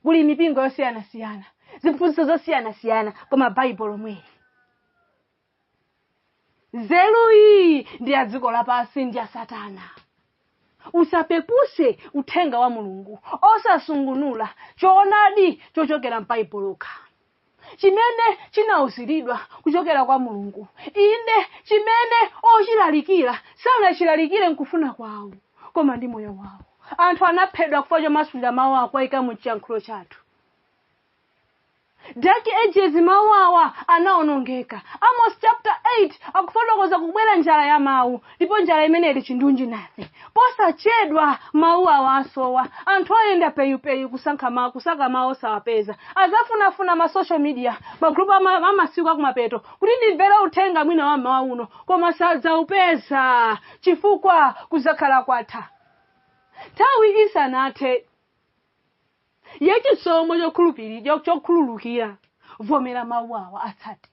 kuli mipingo yosiyanasiyana ziphunzitso zosiyanasiyana koma baibulo lomweli nzeru iyi ndi ya dziko lapansi ndi ya satana usapepuse uthenga wa mulungu osasungunula choonadi chochokera m'baibulo lokha chimene chinauziridwa kuchokera kwa mulungu inde chimene ochilalikira sanachilalikire nkufuna kwawo koma ndi moyo wawo anthu anaphedwa chifukwa chomasulira mawu awa kuwaika mu chiyankhulo chathu Dark Ages mawu awa anaonongeka. Amos chapter 8 akufotokoza kubwera njala ya mawu ndipo njala imeneyi ili chindunji nafe. Posachedwa mawu awa asowa. Anthu ayenda peyupeyu kusankha mawu kusaka mawu osawapeza. Azafunafuna ma social media magrupu ama- amasiku akumapeto kuti ndimvere uthenga mwina wa mmawa uno koma sadzaupeza chifukwa kuzakhala kwatha. Nthawi isanathe ya chisomo chokhulupiri- cho- chokhululukira vomera mawu awa atsate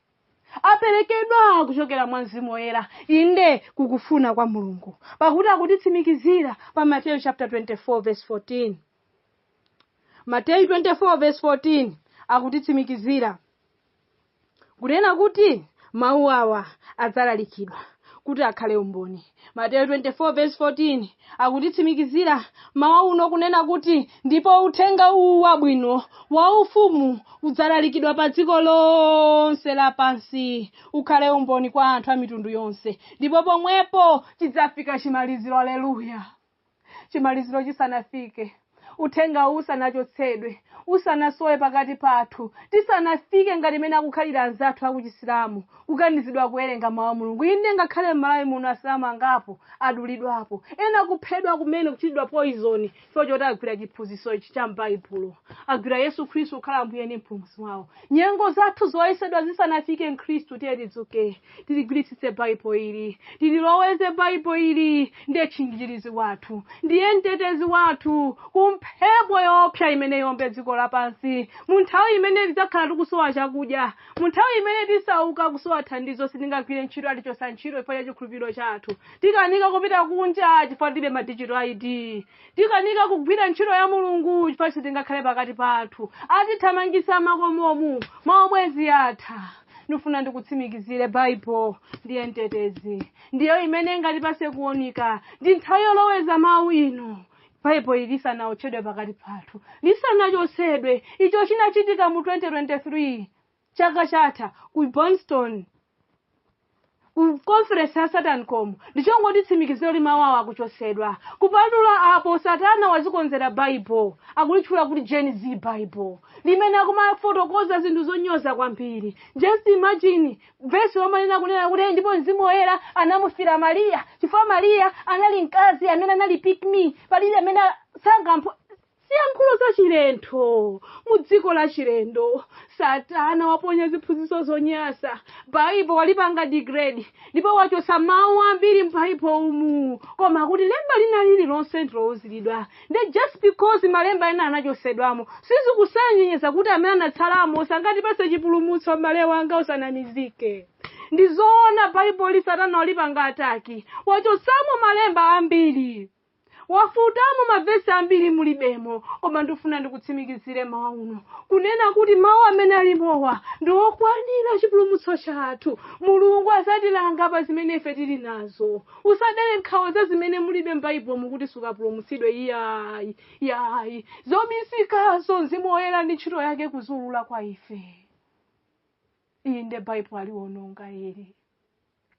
aperekedwa kuchokera mwa mzimu woyera inde kukufuna kwa mulungu pakuti akutitsimikizira pa mateyu chapter 24 verse 14 mateyu 24 verse 14 akutitsimikizira kunena kuti mawu awa adzalalikidwa kuti akhale umboni mateyu 24 verse 14 akutitsimikizira mawa uno kunena kuti ndipo uthenga uwu wabwino wa ufumu udzalalikidwa pa dziko lonse lapansi ukhale umboni kwa anthu a mitundu yonse ndipo pomwepo chidzafika chimaliziro aleluya chimaliziro chisanafike uthenga uwu usanachotsedwe usanasowe pakati pathu tisanafike ngati imene akukhalira anzathu akuchisilamu kukanizidwa kuwerenga mawu a mulungu inde ngakhale m'malawi muno asilamu angapo adulidwapo ena kuphedwa kumene kuchitidwa poizoni chifukwa choti agwira chiphunzitso ichi cha m'baibulo agwira yesu khristu kukhala mbuye ndi mpulumutsi wawo nyengo zathu zoyesedwa zisanafike mkhristu tiye tidzuke tiligwiritsitse baibo ili tililoweze baibo ili ndiye tchinjirizi wathu ndiye mtetezi wathu ku mphepo yoopsa imene yombe dziko lapansi mu nthawi imene tidzakhala tikusowa chakudya mu nthawi imene tisauka kusowa thandizo sitingagwire ntchito atichotsa ntchito chifukwa cha chikhulupiriro chathu tikanika kupita kunja chifukwa tilibe madigital id tikanika kugwira ntchito ya mulungu chifukwa sitingakhale pakati pathu atithamangisa makomomu maubwenzi atha ndifuna ndikutsimikizire baibulo ndiye mtetezi ndiyo imene ingatipatse kuunika ndi nthawi yoloweza mawu ino baibulo ili lisanaotchedwe pakati pathu lisanachotsedwe icho chinachitika mu 2023 chaka chatha ku boston ku conference ya satan com ndichongotitsimikizira kuti mawu awa akuchotsedwa kupatula apo satana wazikonzera bible akulitchula kuti gen z bible limene akumafotokoza zinthu zonyoza kwambiri just imagine vesi lomanena kunena kuti ndipo mzimu woyera anamufira mariya chifukwa mariya anali mkazi amene anali pick me palibe amene sangampho Ziyankhulo zachilendo, Mu dziko lachilendo, satana waponya ziphunzitso zonyasa. Baibo walipanga degrade ndipo wachotsa mau ambiri m'Baibo umu. Koma kuti lemba lina lililonse ndilouzilidwa, nde just because malemba ena anachotsedwamo sizikusonyeza kuti amene anatsalamo sangatipatse chipulumutso m'bale wanga usanamizike. Ndizoona Baiboli satana walipanga attack, wachotsamo malemba ambiri. wafutamo mavesi ambiri mulibemo koma ndifuna ndikutsimikizire mawa uno kunena kuti mawu amene alimowa ndi okwanira chipulumutso chathu mulungu adzatilanga pa zimene ife tili nazo usadere nkhawa za zimene mulibe m'baibulomu kuti sukapulumutsidwe iyayi yayi zobisikazo mzimu woyera ndi ntchito yake kuziulula kwa ife iyi nde baibulo aliwononga ili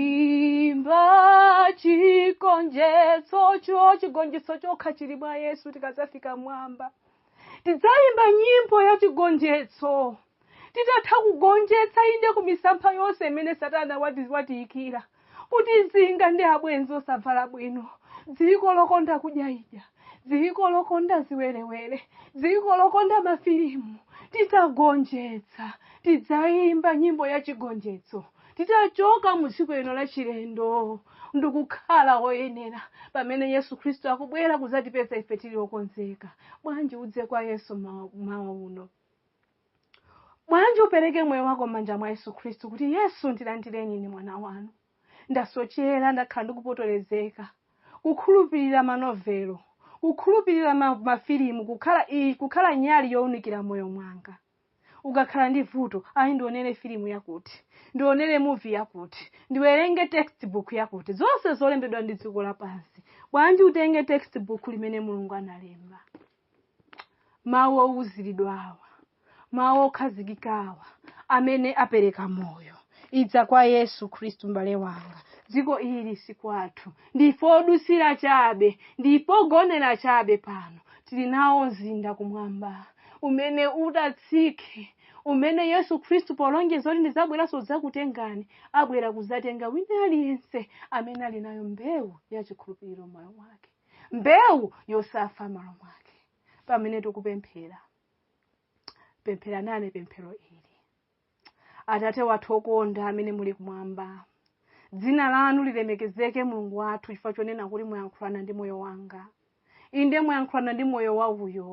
dzaimba chigonjetsocho chigonjetso chokha chili mwa yesu tikadzafika mwamba tidzaimba nyimbo ya chigonjetso titatha kugonjetsa inde ku misampha yonse imene satana wati- watiyikira kuti zinga ndi abwenzi osavala bwino dziko lokonda kudya idya dziko lokonda ziwerewere dziko lokonda mafilimu titagonjetsa tidzayimba nyimbo ya chigonjetso titachoka mu dziko lino la chilendo ndikukhala oyenera pamene yesu khristu akubwera kuzatipeza ife tili okonzeka bwanji udze kwa yesu mawa uno bwanji upereke moyo wako m'manja mwa yesu khristu kuti yesu ndilandireni ine mwana wanu ndasochera ndakhala ndikupotolezeka kukhulupirira manovelo kukhulupirira ma- mafilimu kukhala i- kukhala nyali yowunikira moyo mwanga ukakhala ndi vuto ayi ndionere filimu yakuti ndionere movie yakuti ndiwerenge textbook yakuti zonse zolembedwa ndi dziko lapansi bwanji utenge textbook limene mulungu analemba mawu owuziridwa awa mawu okhazikika awa amene apereka moyo idza kwa yesu khristu mbale wanga dziko ili si kwathu ndife odutsira chabe ndife ogonera chabe pano tili nawo mzinda kumwamba umene udzatsike umene yesu khristu polonjeza kuti ndidzabweranso kudzakutengani abwera kuzatenga wina aliyense amene ali nayo mbewu ya chikhulupiriro m'moyo wake mbewu yosafa m'moyo mwake pamene tikupemphera pemphera nane pemphero ili atate wathu okonda amene muli kumwamba dzina lanu lilemekezeke mulungu wathu chifukwa chonena kuti muyankhulana ndi moyo wanga inde muyankhulana ndi moyo wa uyo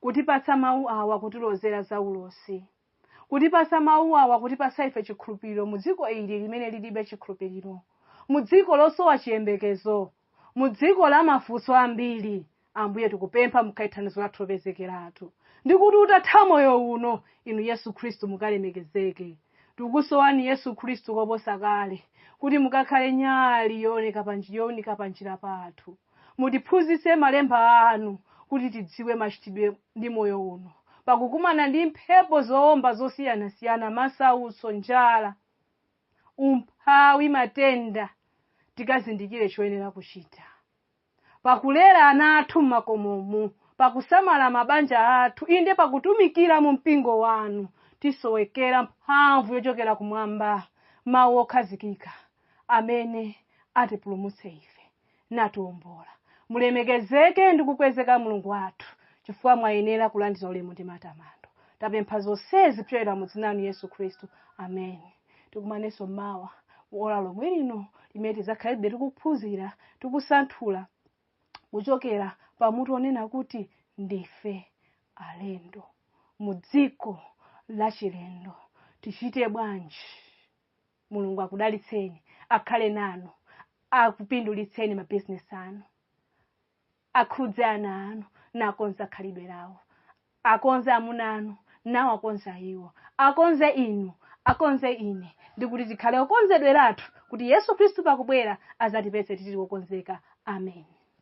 kutipatsa Mawu awa kutilozera za ulosi, kutipatsa Mawu awa kutipatsa ife chikhulupiriro mu dziko ili limene lilibe chikhulupiriro, mu dziko losowa chiyembekezo, mu dziko la mafunso ambiri. Ambuye, tikupempha mukhale thandizo lathu lopezekeratu, ndi kuti utatha moyo uno, Inu Yesu Khristu mukalemekezeke. Tikusowani Yesu Khristu koposa kale, kuti mukakhale nyali yooneka pa nji- younika panjira pathu. mutiphunzitse malemba anu kuti tidziwe machitidwe ndi moyo uno pakukumana ndi mphepo zowomba zosiyanasiyana masautso njala umphawi matenda tikazindikire choyenera kuchita pakulera ana athu m'makomomu pakusamala mabanja athu inde pakutumikira mu mpingo wanu tisowekera mphamvu yochokera kumwamba mawu okhazikika amene atipulumutse ife natiwombola mulemekezeke ndi kukwezeka mulungu wathu chifukwa mwayenera kulandira ulemu ndi matamando tapempha zonsezi kupyolera mu dzina lanu yesu khristu amen tikumanenso mawa mu ola lomwe lino limene tidzakhalebe tikuphunzira tikusanthula kuchokera pa mutu onena kuti ndife alendo mu dziko lachilendo tichite bwanji mulungu akudalitseni akhale nanu akupindulitseni mabizinesi anu akhudze ana anu nakonze khalidwe lawo akonze amuna anu nawo akonze iwo akonze inu akonze ine ndi kuti tikhale okonzedweratu kuti yesu khristu pakubwera azatipeze tili okonzeka amen